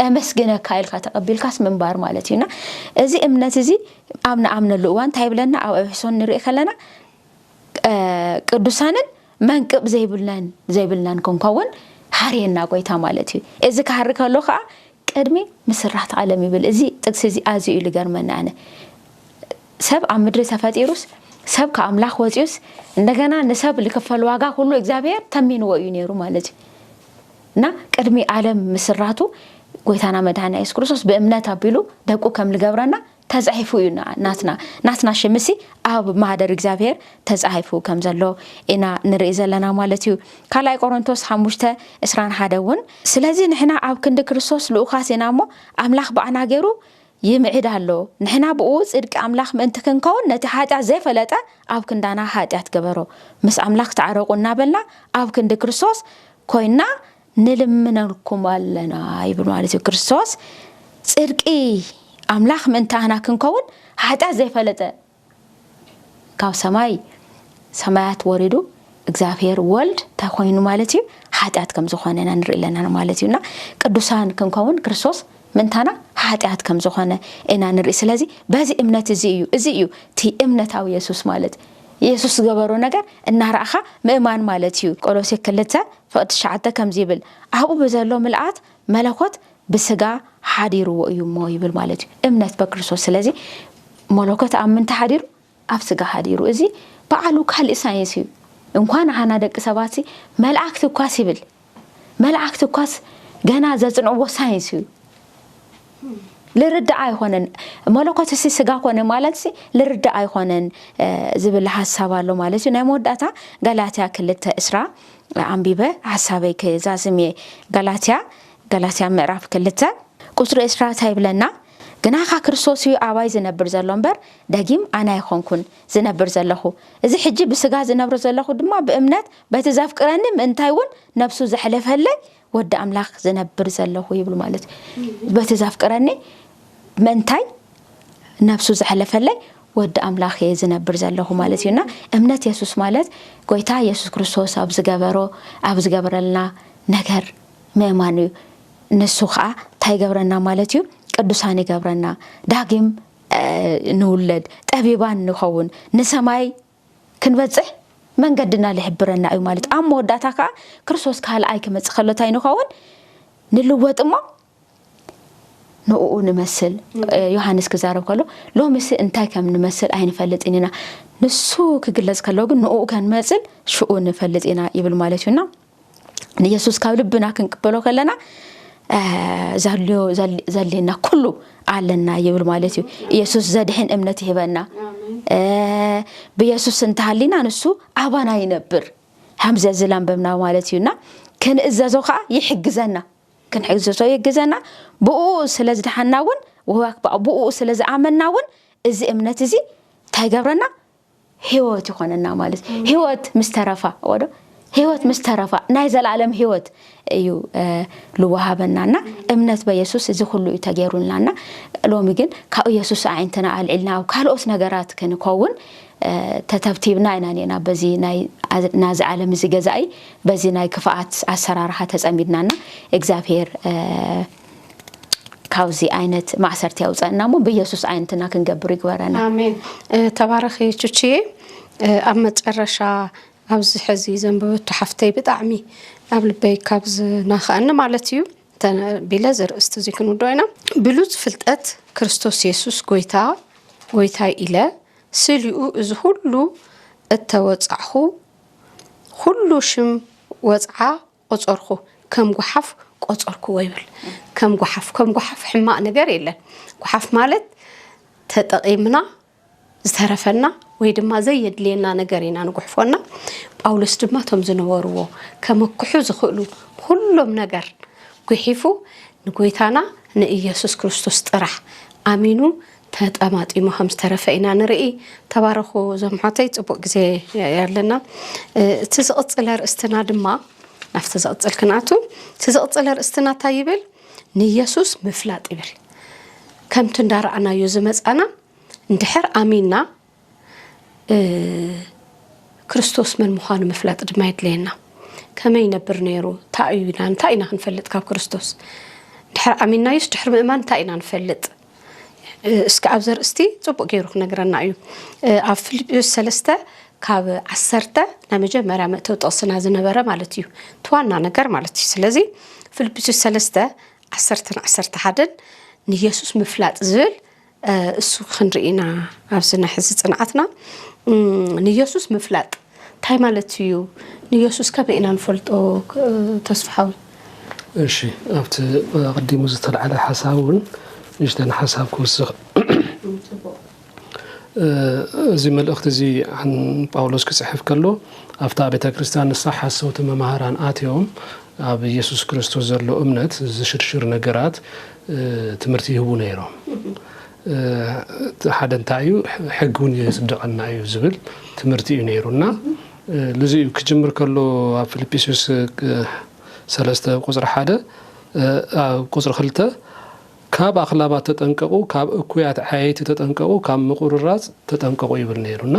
C: ኤመስግነካ ኢልካ ተቐቢልካስ ምንባር ማለት እዩና እዚ እምነት እዚ ኣብ ንኣምነሉ እዋን እንታይ ይብለና ኣብ ኤፌሶን ንርኢ ከለና ቅዱሳንን መንቅብ ዘይብልናን ዘይብልናን ክንከውን ሓርየና ጎይታ ማለት እዩ እዚ ክሃሪ ከሎ ከዓ ቅድሚ ምስራት ዓለም ይብል እዚ ጥቅሲ እዚ ኣዝዩ እዩ ልገርመኒ ኣነ ሰብ ኣብ ምድሪ ተፈጢሩስ ሰብ ካብ ኣምላኽ ወጺኡስ እንደገና ንሰብ ልክፈል ዋጋ ኩሉ እግዚኣብሔር ተሚንዎ እዩ ነይሩ ማለት እዩ እና ቅድሚ ዓለም ምስራቱ ጎይታና መድኃኒያ የሱስ ክርስቶስ ብእምነት ኣቢሉ ደቁ ከም ልገብረና ተጻሒፉ እዩ ናትና ናትና ሽምሲ ኣብ ማህደር እግዚኣብሔር ተጻሒፉ ከም ዘሎ ኢና ንርኢ ዘለና ማለት እዩ ካልኣይ ቆሮንቶስ ሓሙሽተ እስራን ሓደ እውን ስለዚ ንሕና ኣብ ክንዲ ክርስቶስ ልኡኻት ኢና እሞ ኣምላኽ ብኣና ገይሩ ይምዕድ ኣሎ ንሕና ብኡ ጽድቂ ኣምላኽ ምእንቲ ክንከውን ነቲ ሓጢኣት ዘይፈለጠ ኣብ ክንዳና ሓጢኣት ገበሮ ምስ ኣምላኽ ተዓረቑ እናበልና ኣብ ክንዲ ክርስቶስ ኮይና ንልምነልኩም ኣለና ይብል ማለት እዩ ክርስቶስ ጽድቂ ኣምላኽ ምእንታና ክንከውን ሓጢኣት ዘይፈለጠ ካብ ሰማይ ሰማያት ወሪዱ እግዚኣብሔር ወልድ እንታይ ኮይኑ ማለት እዩ ሓጢኣት ከም ዝኾነ ኢና ንርኢ ኣለና ማለት እዩና ቅዱሳን ክንከውን ክርስቶስ ምእንታና ሓጢኣት ከም ዝኾነ ኢና ንርኢ ስለዚ በዚ እምነት እዚ እዩ እዚ እዩ እቲ እምነታዊ የሱስ ማለት ኢየሱስ ዝገበሮ ነገር እናረእኻ ምእማን ማለት እዩ ቆሎሴ ክልተ ፍቅ ትሽዓተ ከምዚ ይብል ኣብኡ ብዘሎ ምልኣት መለኮት ብስጋ ሓዲርዎ እዩ እሞ ይብል ማለት እዩ እምነት በክርስቶስ ስለዚ መለኮት ኣብ ምንታይ ሓዲሩ ኣብ ስጋ ሓዲሩ እዚ በዓሉ ካልእ ሳይንስ እዩ እንኳን ንዓና ደቂ ሰባት መላእክቲ እኳስ ይብል መላእክቲ እኳስ ገና ዘጽንዕዎ ሳይንስ እዩ ልርዳእ ኣይኾነን መለኮትሲ ስጋ ኮነ ማለትሲ ልርዳእ ኣይኾነን ዝብል ሀሳብ ኣሎ ማለት እዩ ናይ መወዳእታ ጋላትያ ክልተ እስራ ኣንቢበ ሀሳበይ ክዛዝም እየ ጋላትያ ጋላትያ ምዕራፍ ክልተ ቁፅሪ እስራ እንታይ ይብለና ግናኻ ክርስቶስ እዩ ኣባይ ዝነብር ዘሎ እምበር ደጊም ኣነ ኣይኾንኩን ዝነብር ዘለኹ እዚ ሕጂ ብስጋ ዝነብር ዘለኹ ድማ ብእምነት በቲ ዘፍቅረኒ ምእንታይ እውን ነብሱ ዘሕለፈለይ ወዲ ኣምላኽ ዝነብር ዘለኹ ይብሉ ማለት በቲ ዘፍቅረኒ መንታይ ነብሱ ዘሕለፈለይ ወዲ ኣምላኽ እየ ዝነብር ዘለኹ ማለት እዩና እምነት የሱስ ማለት ጎይታ የሱስ ክርስቶስ ኣብ ዝገበሮ ኣብ ዝገበረልና ነገር ምእማን እዩ ንሱ ከዓ እንታይ ይገብረና ማለት እዩ ቅዱሳን ይገብረና ዳግም ንውለድ ጠቢባን ንኸውን ንሰማይ ክንበጽሕ መንገድና ልሕብረና እዩ ማለት ኣብ መወዳእታ ከኣ ክርስቶስ ካልኣይ ክመጽእ ከሎ እንታይ ንኸውን ንልወጥ እሞ ንኡ ንመስል ዮሃንስ ክዛረብ ከሎ ሎምሲ እንታይ ከም ንመስል ኣይንፈልጥን ኢና ንሱ ክግለጽ ከሎ ግን ንኡ ከንመጽል ሽኡ ንፈልጥ ኢና ይብል ማለት እዩና ንየሱስ ካብ ልብና ክንቅበሎ ከለና ዘልዮ ዘድልየና ኩሉ ኣለና ይብል ማለት እዩ ኢየሱስ ዘድሕን እምነት ይህበና ብየሱስ እንተሃሊና ንሱ ኣባና ይነብር ከምዚ ዝለንበብና ማለት እዩና ክንእዘዞ ከዓ ይሕግዘና ክንሕግዘዞ ይግዘና ብኡ ስለ ዝደሓና እውን ብኡ ስለ ዝኣመና እውን እዚ እምነት እዚ እንታይ ይገብረና ህይወት ይኾነና ማለት እዩ። ህይወት ምስ ተረፋ ወዶ ህይወት ምስ ተረፋ ናይ ዘለኣለም ህይወት እዩ ልወሃበናና እምነት በየሱስ እዚ ኩሉ እዩ ተገይሩልናና ሎሚ ግን ካብ ኢየሱስ ኣዒንትና ኣልዒልና ኣብ ካልኦት ነገራት ክንከውን ተተብቲብና ኢና ኔና በዚ ናዚ ዓለም እዚ ገዛኢ በዚ ናይ ክፍኣት ኣሰራርሓ ተጸሚድናና እግዚኣብሄር ካብዚ ዓይነት ማእሰርቲ ያውፀእና እሞ ብኢየሱስ ዓይነትና ክንገብር ይግበረና። ኣሜን።
A: ተባረኺ ቹችዬ። ኣብ መጨረሻ ኣብዚ ሕዚ ዘንበበቶ ሓፍተይ ብጣዕሚ ኣብ ልበይ ካብ ዝናኸኣኒ ማለት እዩ ቢለ ዘርእስቲ እዚ ክንውዶ ኢና ብሉፅ ፍልጠት ክርስቶስ የሱስ ጎይታ ጎይታይ ኢለ ስሊኡ እዚ ሁሉ እተወፃዕኹ ሁሉ ሽም ወፅዓ ቆጸርኩ ከም ጉሓፍ ቆጸርኩዎ ይብል ከም ጉሓፍ ከም ጉሓፍ ሕማቅ ነገር የለን ጉሓፍ ማለት ተጠቂምና ዝተረፈና ወይ ድማ ዘየድልየና ነገር ኢና ንጉሕፎና ጳውሎስ ድማ እቶም ዝነበርዎ ከመክሑ ዝኽእሉ ኩሎም ነገር ጉሒፉ ንጎይታና ንኢየሱስ ክርስቶስ ጥራሕ ኣሚኑ ተጠማጢሙ ከም ዝተረፈ ኢና ንርኢ። ተባረኹ እዞም ኣሕዋተይ ጽቡቅ ግዜ ኣለና። እቲ ዝቕጽል ኣርእስትና ድማ ናብቲ ዝቕጽል ክንኣቱ እቲ ዝቕጽል ኣርእስትና እንታይ ይብል? ንየሱስ ምፍላጥ ይብል። ከምቲ እንዳረኣናዮ ዝመጻና እንድሕር ኣሚንና ክርስቶስ መን ምዃኑ ምፍላጥ ድማ የድለየና ከመይ ይነብር ነይሩ እንታይ እዩ ኢና እንታይ ኢና ክንፈልጥ ካብ ክርስቶስ ድሕሪ ዓሚናዩስ ድሕሪ ምእማን እንታይ ኢና ንፈልጥ እስኪ ኣብ ዘርእስቲ ፅቡቅ ገይሩ ክነግረና እዩ ኣብ ፊልጵስ ሰለስተ ካብ ዓሰርተ ናይ መጀመርያ መእተው ጥቕስና ዝነበረ ማለት እዩ እቲ ዋና ነገር ማለት እዩ ስለዚ ፊልጵስ ሰለስተ ዓሰርተን ዓሰርተ ሓደን ንየሱስ ምፍላጥ ዝብል እሱ ክንርኢ ኢና ኣብዚ ናይ ሕዚ ጽንዓትና። ንየሱስ ምፍላጥ እንታይ ማለት እዩ? ንየሱስ ከመይ ኢና ንፈልጦ ተስፍሓዊ?
B: እሺ ኣብቲ ኣቐዲሙ ዝተልዓለ ሓሳብ እውን ንእሽተን ሓሳብ ክውስኽ። እዚ መልእኽቲ እዚ ጳውሎስ ክጽሕፍ ከሎ ኣብታ ቤተ ክርስቲያን ንሳ ሓሰውቲ መማህራን ኣትዮም ኣብ ኢየሱስ ክርስቶስ ዘሎ እምነት ዝሽርሽር ነገራት ትምህርቲ ይህቡ ነይሮም። እቲ ሓደ እንታይ እዩ ሕጊ እውን የፅድቐና እዩ ዝብል ትምህርቲ እዩ ነይሩ እና ልዚ እዩ ክጅምር ከሎ ኣብ ፊልጵስዩስ ሰለስተ ቁፅሪ ሓደ ቁፅሪ ክልተ ካብ ኣኽላባት ተጠንቀቑ፣ ካብ እኩያት ዓየይቲ ተጠንቀቑ፣ ካብ ምቁርራፅ ተጠንቀቑ ይብል ነይሩ እና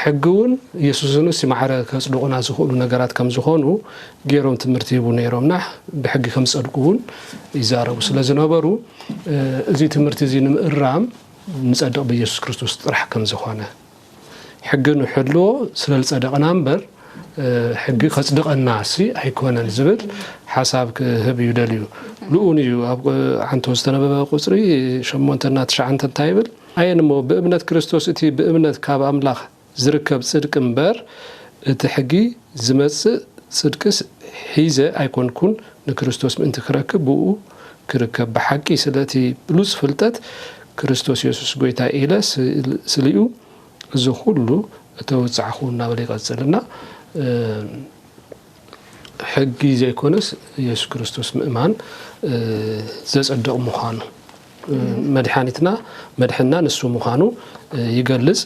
B: ሕጊ እውን የሱስን እሲ ማዕረ ከጽድቑና ዝኽእሉ ነገራት ከም ዝኾኑ ገይሮም ትምህርቲ ይህቡ ነይሮም እና ብሕጊ ከም ዝጸድቁ እውን ይዛረቡ ስለ ዝነበሩ እዚ ትምህርቲ እዚ ንምእራም ንጸድቕ ብኢየሱስ ክርስቶስ ጥራሕ ከም ዝኾነ ሕጊ ንሕልዎ ስለ ዝጸደቕና እምበር ሕጊ ከጽድቐና እሲ ኣይኮነን ዝብል ሓሳብ ክህብ እዩ ደልዩ ንኡን እዩ ኣብ ዓንቶ ዝተነበበ ቁጽሪ ሸሞንተና ትሽዓንተ እንታይ ይብል ኣየን እሞ ብእምነት ክርስቶስ እቲ ብእምነት ካብ ኣምላኽ ዚርከብ ጽድቂ እምበር፣ እቲ ሕጊ ዚመጽእ ጽድቅስ ሒዘ ኣይኰንኩን፣ ንክርስቶስ ምእንቲ ክረክብ ብእኡ ክርከብ ብሓቂ ስለ እቲ ብሉጽ ፍልጠት ክርስቶስ የሱስ ጐይታይ ኢለ ስሌኡ እዚ ዅሉ እተወጻዕኩ እናበለ ይቐጽል እና ሕጊ ዘይኮነስ የሱስ ክርስቶስ ምእማን ዘጸድቕ ምዃኑ መድሓኒትና መድሕና ንሱ ምዃኑ ይገልጽ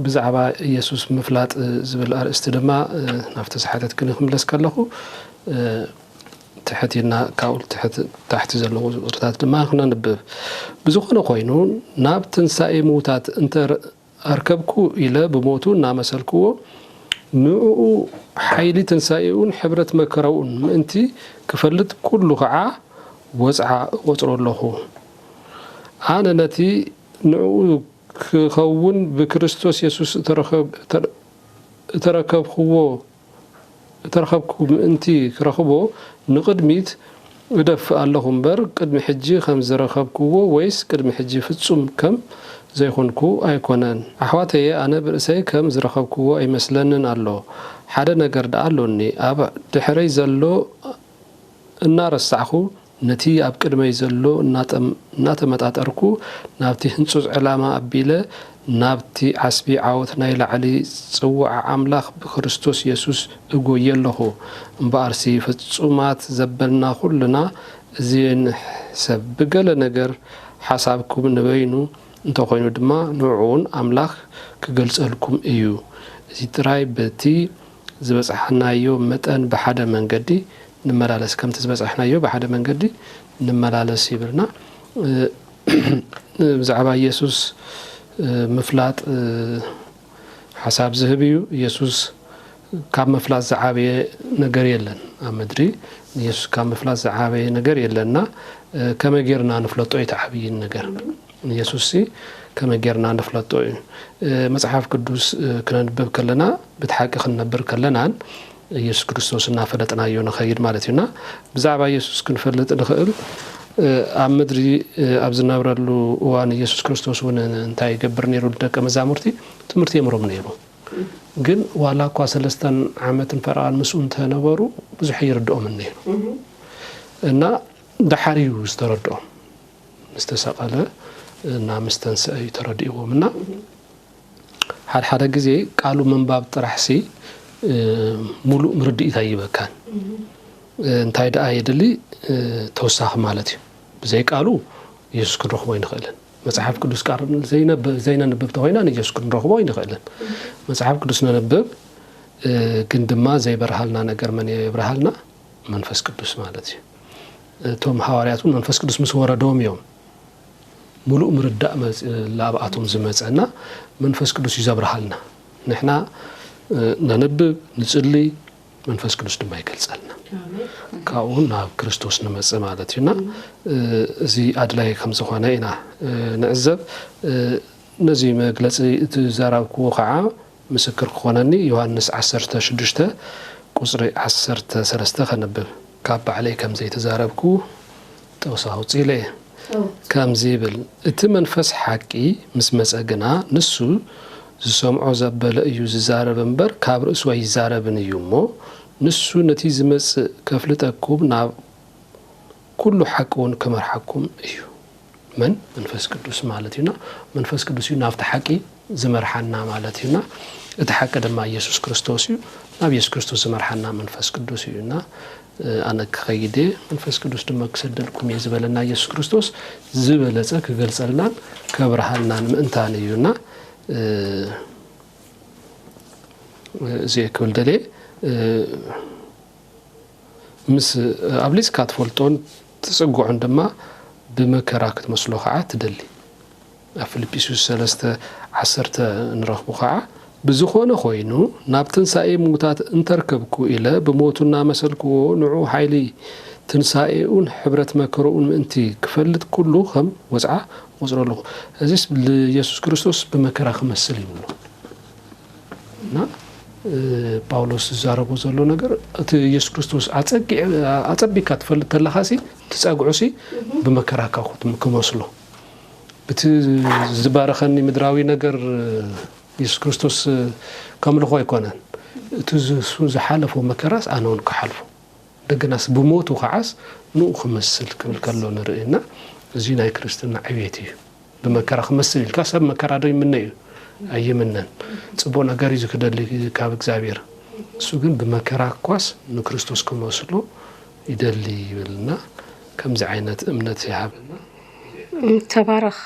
B: ብዛዕባ ኢየሱስ ምፍላጥ ዝብል ኣርእስቲ ድማ ናብቲ ዝሓተትክኒ ክምለስ ከለኹ ትሕት ኢልና ካብኡ ታሕቲ ዘለዉ ቁፅርታት ድማ ክነንብብ ብዝኾነ ኮይኑ ናብ ትንሳኤ ምዉታት እንተ ኣርከብኩ ኢለ ብሞቱ እናመሰልክዎ፣ ንእኡ ሓይሊ ትንሣኤኡን ሕብረት መከራኡን ምእንቲ ክፈልጥ ኩሉ ከዓ ወጽዓ እቆጽሮ ኣሎኹ። ኣነ ነቲ ንእኡ ክኸውን ብክርስቶስ የሱስ እተረከብክዎ እተረኸብኩ ምእንቲ ክረኽቦ ንቕድሚት እደፍእ ኣለኹ እምበር፣ ቅድሚ ሕጂ ከም ዝረኸብኩዎ ወይስ ቅድሚ ሕጂ ፍጹም ከም ዘይኰንኩ ኣይኰነን። ኣሕዋተየ፣ ኣነ ብርእሰይ ከም ዝረኸብኩዎ ኣይመስለንን ኣሎ። ሓደ ነገር ደኣ ኣሎኒ፣ ኣብ ድሕረይ ዘሎ እናረሳዕኩ ነቲ ኣብ ቅድመይ ዘሎ እናተመጣጠርኩ ናብቲ ህንጹጽ ዕላማ ኣቢለ ናብቲ ዓስቢ ዓወት ናይ ላዕሊ ጽውዓ ኣምላኽ ብክርስቶስ የሱስ እጎዪ ኣሎኹ። እምበኣርሲ ፍጹማት ዘበልና ኩልና እዚ ንሕሰብ ብገለ ነገር ሓሳብኩም ንበይኑ እንተ ኮይኑ ድማ ንዕኡውን ኣምላኽ ክገልጸልኩም እዩ እዚ ጥራይ በቲ ዝበጽሓናዮ መጠን ብሓደ መንገዲ ንመላለስ፣ ከምቲ ዝበጽሕናዮ ብሓደ መንገዲ ንመላለስ ይብልና። ብዛዕባ ኢየሱስ ምፍላጥ ሓሳብ ዝህብ እዩ። ኢየሱስ ካብ ምፍላጥ ዝዓበየ ነገር የለን ኣብ ምድሪ ንኢየሱስ ካብ ምፍላጥ ዝዓበየ ነገር የለን እና ከመይ ጌርና ንፍለጦ እዩ እቲ ዓብዪ ነገር። ንየሱስሲ ከመይ ጌርና ንፍለጦ እዩ? መጽሓፍ ቅዱስ ክነንብብ ከለና ብትሓቂ ክንነብር ከለናን የሱስ ክርስቶስ እናፈለጥናዮ ንኸይድ ማለት እዩ እና ብዛዕባ የሱስ ክንፈልጥ ንኽእል ኣብ ምድሪ ኣብ ዝነብረሉ እዋን የሱስ ክርስቶስ እውን እንታይ ይገብር ነይሩ ንደቀ መዛሙርቲ ትምህርቲ የምሮም ነይሩ ግን ዋላ እኳ ሰለስተን ዓመትን ፈረቓን ምስኡ እንተነበሩ ብዙሕ ይርድኦምን ነይሩ እና ደሓር እዩ ዝተረድኦም ምስ ተሰቐለ እና ምስ ተንስኣ እዩ ተረዲእዎም እና ሓደ ሓደ ግዜ ቃሉ ምንባብ ጥራሕሲ ሙሉእ ምርድኢት ኣይበካን እንታይ ደኣ የድሊ ተወሳኺ ማለት እዩ ብዘይ ቃሉ ኢየሱስ ክንረኽቦ ኣይንኽእልን መጽሓፍ ቅዱስ ቃል ዘይነንብብ ተኾይና ንኢየሱስ ክንረኽቦ ኣይንኽእልን መጽሓፍ ቅዱስ ነንብብ ግን ድማ ዘይበርሃልና ነገር መን የብርሃልና መንፈስ ቅዱስ ማለት እዩ እቶም ሃዋርያት እውን መንፈስ ቅዱስ ምስ ወረዶም እዮም ሙሉእ ምርዳእ ላብኣቶም ዝመፀ እና መንፈስ ቅዱስ እዩ ዘብርሃልና ንሕና ነንብብ ንፅሊ መንፈስ ቅዱስ ድማ ይገልፀልና ካብኡ ናብ ክርስቶስ ንመፅእ ማለት እዩና እዚ ኣድላይ ከም ዝኾነ ኢና ንዕዘብ ነዚ መግለፂ እቲ ዘራብክዎ ከዓ ምስክር ክኾነኒ ዮሃንስ ዓሰርተ ሽዱሽተ ቁጽሪ ዓሰርተ ሰለስተ ከንብብ። ካብ ባዕለይ ከም ዘይተዛረብኩ ጥቕሲ ኣውጺለ እየ። ከምዚ ይብል፣ እቲ መንፈስ ሓቂ ምስ መጸ ግና ንሱ ዝሰምዖ ዘበለ እዩ ዝዛረብ እምበር ካብ ርእሱ ኣይዛረብን እዩ እሞ ንሱ ነቲ ዝመጽእ ከፍልጠኩም ናብ ኩሉ ሓቂ ውን ክመርሓኩም እዩ። መን? መንፈስ ቅዱስ ማለት እዩና። መንፈስ ቅዱስ እዩ ናብቲ ሓቂ ዝመርሓና ማለት እዩና። እቲ ሓቂ ድማ እየሱስ ክርስቶስ እዩ። ናብ እየሱስ ክርስቶስ ዝመርሓና መንፈስ ቅዱስ እዩ እና ኣነ ክኸይድ እየ መንፈስ ቅዱስ ድማ ክሰደልኩም እየ ዝበለና እየሱስ ክርስቶስ ዝበለፀ ክገልፀልናን ከብርሃልናን ምእንታን እዩና እዚ ክብል ደልየ ምስ ኣብሊጽካ ትፈልጦን ትጽግዖን ድማ ብመከራ ክትመስሎ ኸዓ ትደሊ። ኣብ ፊልጵስዩስ ሰለስተ ዓሰርተ እንረኽቦ ኸዓ ብዝኾነ ኾይኑ ናብ ትንሣኤ ምዉታት እንተርከብኩ ኢለ ብሞቱ እናመሰልክዎ ንዑ ኃይሊ ትንሣኤኡን ኅብረት መከርኡን ምእንቲ ክፈልጥ ኩሉ ኸም ወጽዓ እቖጽሮ ኣለኹ። እዚስ ልየሱስ ክርስቶስ ብመከራ ክመስል ይብሎ። እና ጳውሎስ ዝዛረቦ ዘሎ ነገር እቲ ኢየሱስ ክርስቶስ ኣጸቢካ ትፈልጥ ተለካ ሲ ትጸግዑ ሲ ብመከራካ ክመስሎ እቲ ዝባረኸኒ ምድራዊ ነገር ኢየሱስ ክርስቶስ ከምልኾ ኣይኮነን እቲ እሱ ዝሓለፎ መከራስ ኣነ እውን ክሓልፎ እንደገናስ ብሞቱ ከዓስ ንኡ ክመስል ክብል ከሎ ንርኢ እና እዚ ናይ ክርስትና ዕቤት እዩ ብመከራ ክመስል ኢልካ ሰብ መከራ ዶ ይምነ እዩ? ኣይምነን። ጽቡቕ ነገር እዩ ዝክደሊ ካብ እግዚኣብሔር። እሱ ግን ብመከራ እኳስ ንክርስቶስ ክመስሎ ይደሊ ይብል እና ከምዚ ዓይነት እምነት ይሃበና።
A: ተባረኽ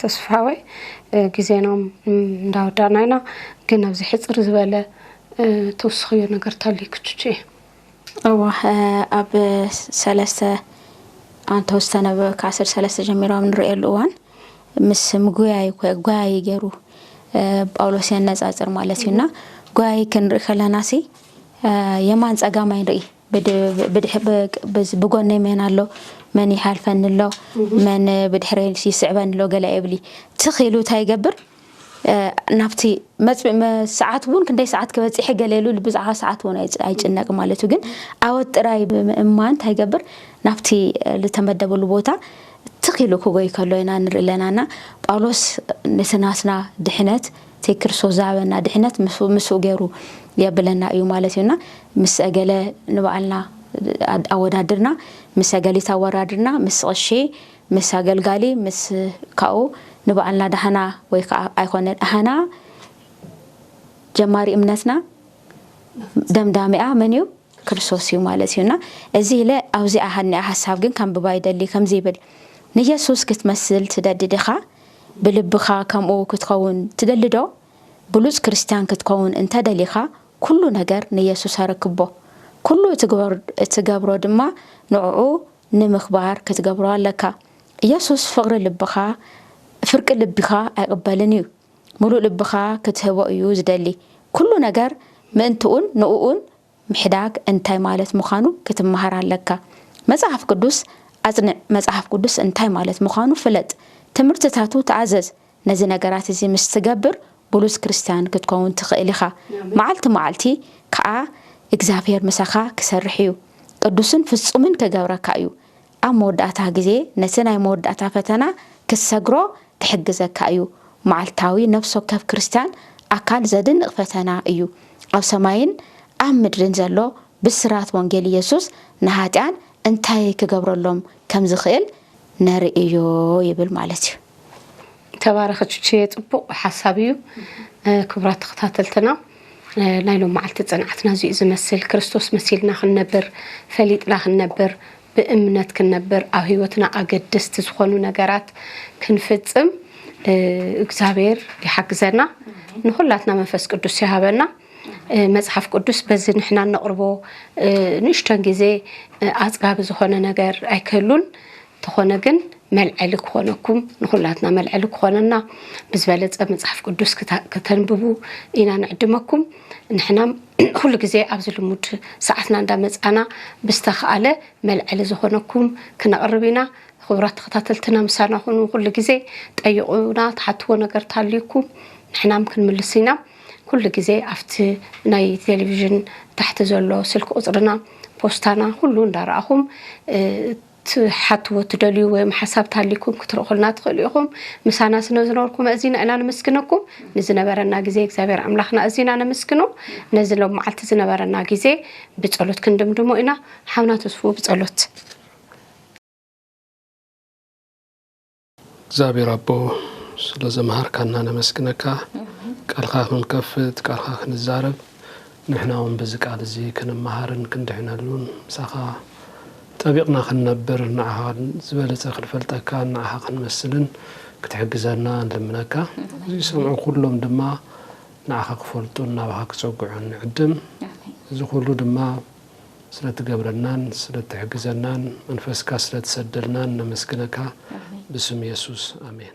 A: ተስፋወይ ግዜናም እንዳወዳእና ኢና ግን ኣብዚ ሕፅር ዝበለ ተወስኽዮ ነገር ተልዩ ክቹቹ እየ እወ ኣብ
C: ሰለስተ ኣንተ ዝተነበበ ካስር ሰለስተ ጀሚሮ ኣብ ንርእየሉ እዋን ምስ ምጉያይ ጓያይ ገይሩ ጳውሎስ የነጻጽር ማለት እዩ እና ጓያይ ክንርኢ ከለና ሲ የማን ጸጋማይ ንርኢ ብጎነይ መን ኣሎ መን ይሓልፈኒ ኣሎ መን ብድሕረይ ይስዕበኒ ኣሎ ገለ የብሊ ትኽ ኢሉ እንታይ ይገብር ናብቲ ሰዓት እውን ክንደይ ሰዓት ክበፂሐ ገለ ኢሉ ብዛዕባ ሰዓት እውን ኣይጭነቅ ማለት እዩ ግን ኣወት ጥራይ ብምእማን እንታይ ይገብር ናብቲ ዝተመደበሉ ቦታ ትኽ ኢሉ ክጎይ ከሎ ኢና ንርኢ ኣለና እና ጳውሎስ ነቲ ናትና ድሕነት እቲ ክርስቶስ ዝሃበና ድሕነት ምስኡ ገይሩ የብለና እዩ ማለት እዩና ምስ ገለ ንባዕልና ኣወዳድርና ምስ ገሊት ኣወዳድርና ምስ ቐሺ ምስ ኣገልጋሊ ምስ ካብኡ ንባዕልና ዳህና ወይ ከኣ ኣይኮነ ዳህና ጀማሪ እምነትና ደምዳሚኣ መን እዩ ክርስቶስ እዩ ማለት እዩ እና እዚ ኢለ ኣብዚኣ ሃኒኣ ሓሳብ ግን ከንብባ ይደሊ ከምዚ ይብል ንየሱስ ክትመስል ትደዲ ዲኻ ብልብኻ ከምኡ ክትኸውን ትደሊ ዶ ብሉጽ ክርስትያን ክትከውን እንተ ደሊኻ ኩሉ ነገር ንየሱስ ኣረክቦ ኩሉ እትገብሮ ድማ ንዕኡ ንምኽባር ክትገብሮ ኣለካ። ኢየሱስ ፍቕሪ ልብኻ ፍርቂ ልቢኻ ኣይቕበልን እዩ። ምሉእ ልብኻ ክትህቦ እዩ ዝደሊ። ኩሉ ነገር ምእንትኡን ንኡኡን ምሕዳግ እንታይ ማለት ምዃኑ ክትመሃር ኣለካ። መጽሓፍ ቅዱስ ኣጽንዕ፣ መጽሓፍ ቅዱስ እንታይ ማለት ምዃኑ ፍለጥ፣ ትምህርትታቱ ተኣዘዝ፣ ነዚ ነገራት እዚ ምስ ትገብር ብሉጽ ክርስትያን ክትከውን ትኽእል ኢኻ፣ መዓልቲ መዓልቲ ከኣ እግዚኣብሄር ምሳኻ ክሰርሕ እዩ፣ ቅዱስን ፍጹምን ክገብረካ እዩ፣ ኣብ መወዳእታ ግዜ ነቲ ናይ መወዳእታ ፈተና ክትሰግሮ ክሕግዘካ እዩ። መዓልታዊ ነፍሲ ወከፍ ክርስትያን ኣካል ዘድንቕ ፈተና እዩ። ኣብ ሰማይን ኣብ ምድርን ዘሎ ብስራት ወንጌል ኢየሱስ ንሃጥያን እንታይ ክገብረሎም ከም ዝኽእል ነርኢ እዩ ይብል ማለት እዩ። ተባረኺ
A: ቹቹየ ጽቡቕ ሓሳብ እዩ ክብራት ተኸታተልትና ናይ ሎም መዓልቲ ጽንዓትና እዚኡ ዝመስል ክርስቶስ መሲልና ክንነብር ፈሊጥና ክንነብር ብእምነት ክንነብር ኣብ ህይወትና ኣገደስቲ ዝኾኑ ነገራት ክንፍጽም እግዚኣብሔር ይሓግዘና ንኹላትና መንፈስ ቅዱስ ይሃበና መጽሓፍ ቅዱስ በዚ ንሕና እነቕርቦ ንእሽቶን ግዜ ኣጽጋቢ ዝኾነ ነገር ኣይክህሉን ተኾነ ግን መልዐሊ ክኾነኩም ንኹላትና መልዐሊ ክኾነና ብዝበለፀ መፅሓፍ ቅዱስ ክተንብቡ ኢና ንዕድመኩም ንሕና ኩሉ ግዜ ኣብዚ ልሙድ ሰዓትና እንዳመፃና ብዝተኸኣለ መልዐሊ ዝኾነኩም ክነቕርብ ኢና ክቡራት ተኸታተልትና ምሳና ኹኑ ኩሉ ግዜ ጠይቑና ትሓትዎ ነገር ታልዩኩም ንሕናም ክንምልስ ኢና ኩሉ ግዜ ኣብቲ ናይ ቴሌቭዥን ታሕቲ ዘሎ ስልኪ ቁፅርና ፖስታና ኩሉ እንዳረኣኹም ትሓትዎ ትደልዩ ወይም ሓሳብ ታሊኩም ክትርኹልና ትኽእሉ ኢኹም። ምሳና ስነ ዝነበርኩም ኣእዚና ኢና ነመስግነኩም። ንዝነበረና ግዜ እግዚኣብሔር ኣምላኽና ኣእዚና ነመስግኖ። ነዚ ሎም መዓልቲ ዝነበረና ግዜ ብጸሎት ክንድምድሞ ኢና። ሓውና ተስፉ ብጸሎት።
B: እግዚኣብሔር ኣቦ ስለ ዘምሃርካና ነመስግነካ ቃልካ ክንከፍት ቃልካ ክንዛረብ ንሕና እውን በዚ ቃል እዚ ክንመሃርን ክንድሕነሉን ምሳኻ ጠቢቕና ክንነብር ንዓኻ ዝበለፀ ክንፈልጠካ ንዓኻ ክንመስልን ክትሕግዘና ንልምነካ እዚ ዝሰምዑ ኩሎም ድማ ንዓኻ ክፈልጡን ናባኻ ክፀግዑን ንዕድም እዚ ኩሉ ድማ ስለትገብረናን ስለትሕግዘናን መንፈስካ ስለትሰደልናን ነመስግነካ ብስም የሱስ ኣሜን።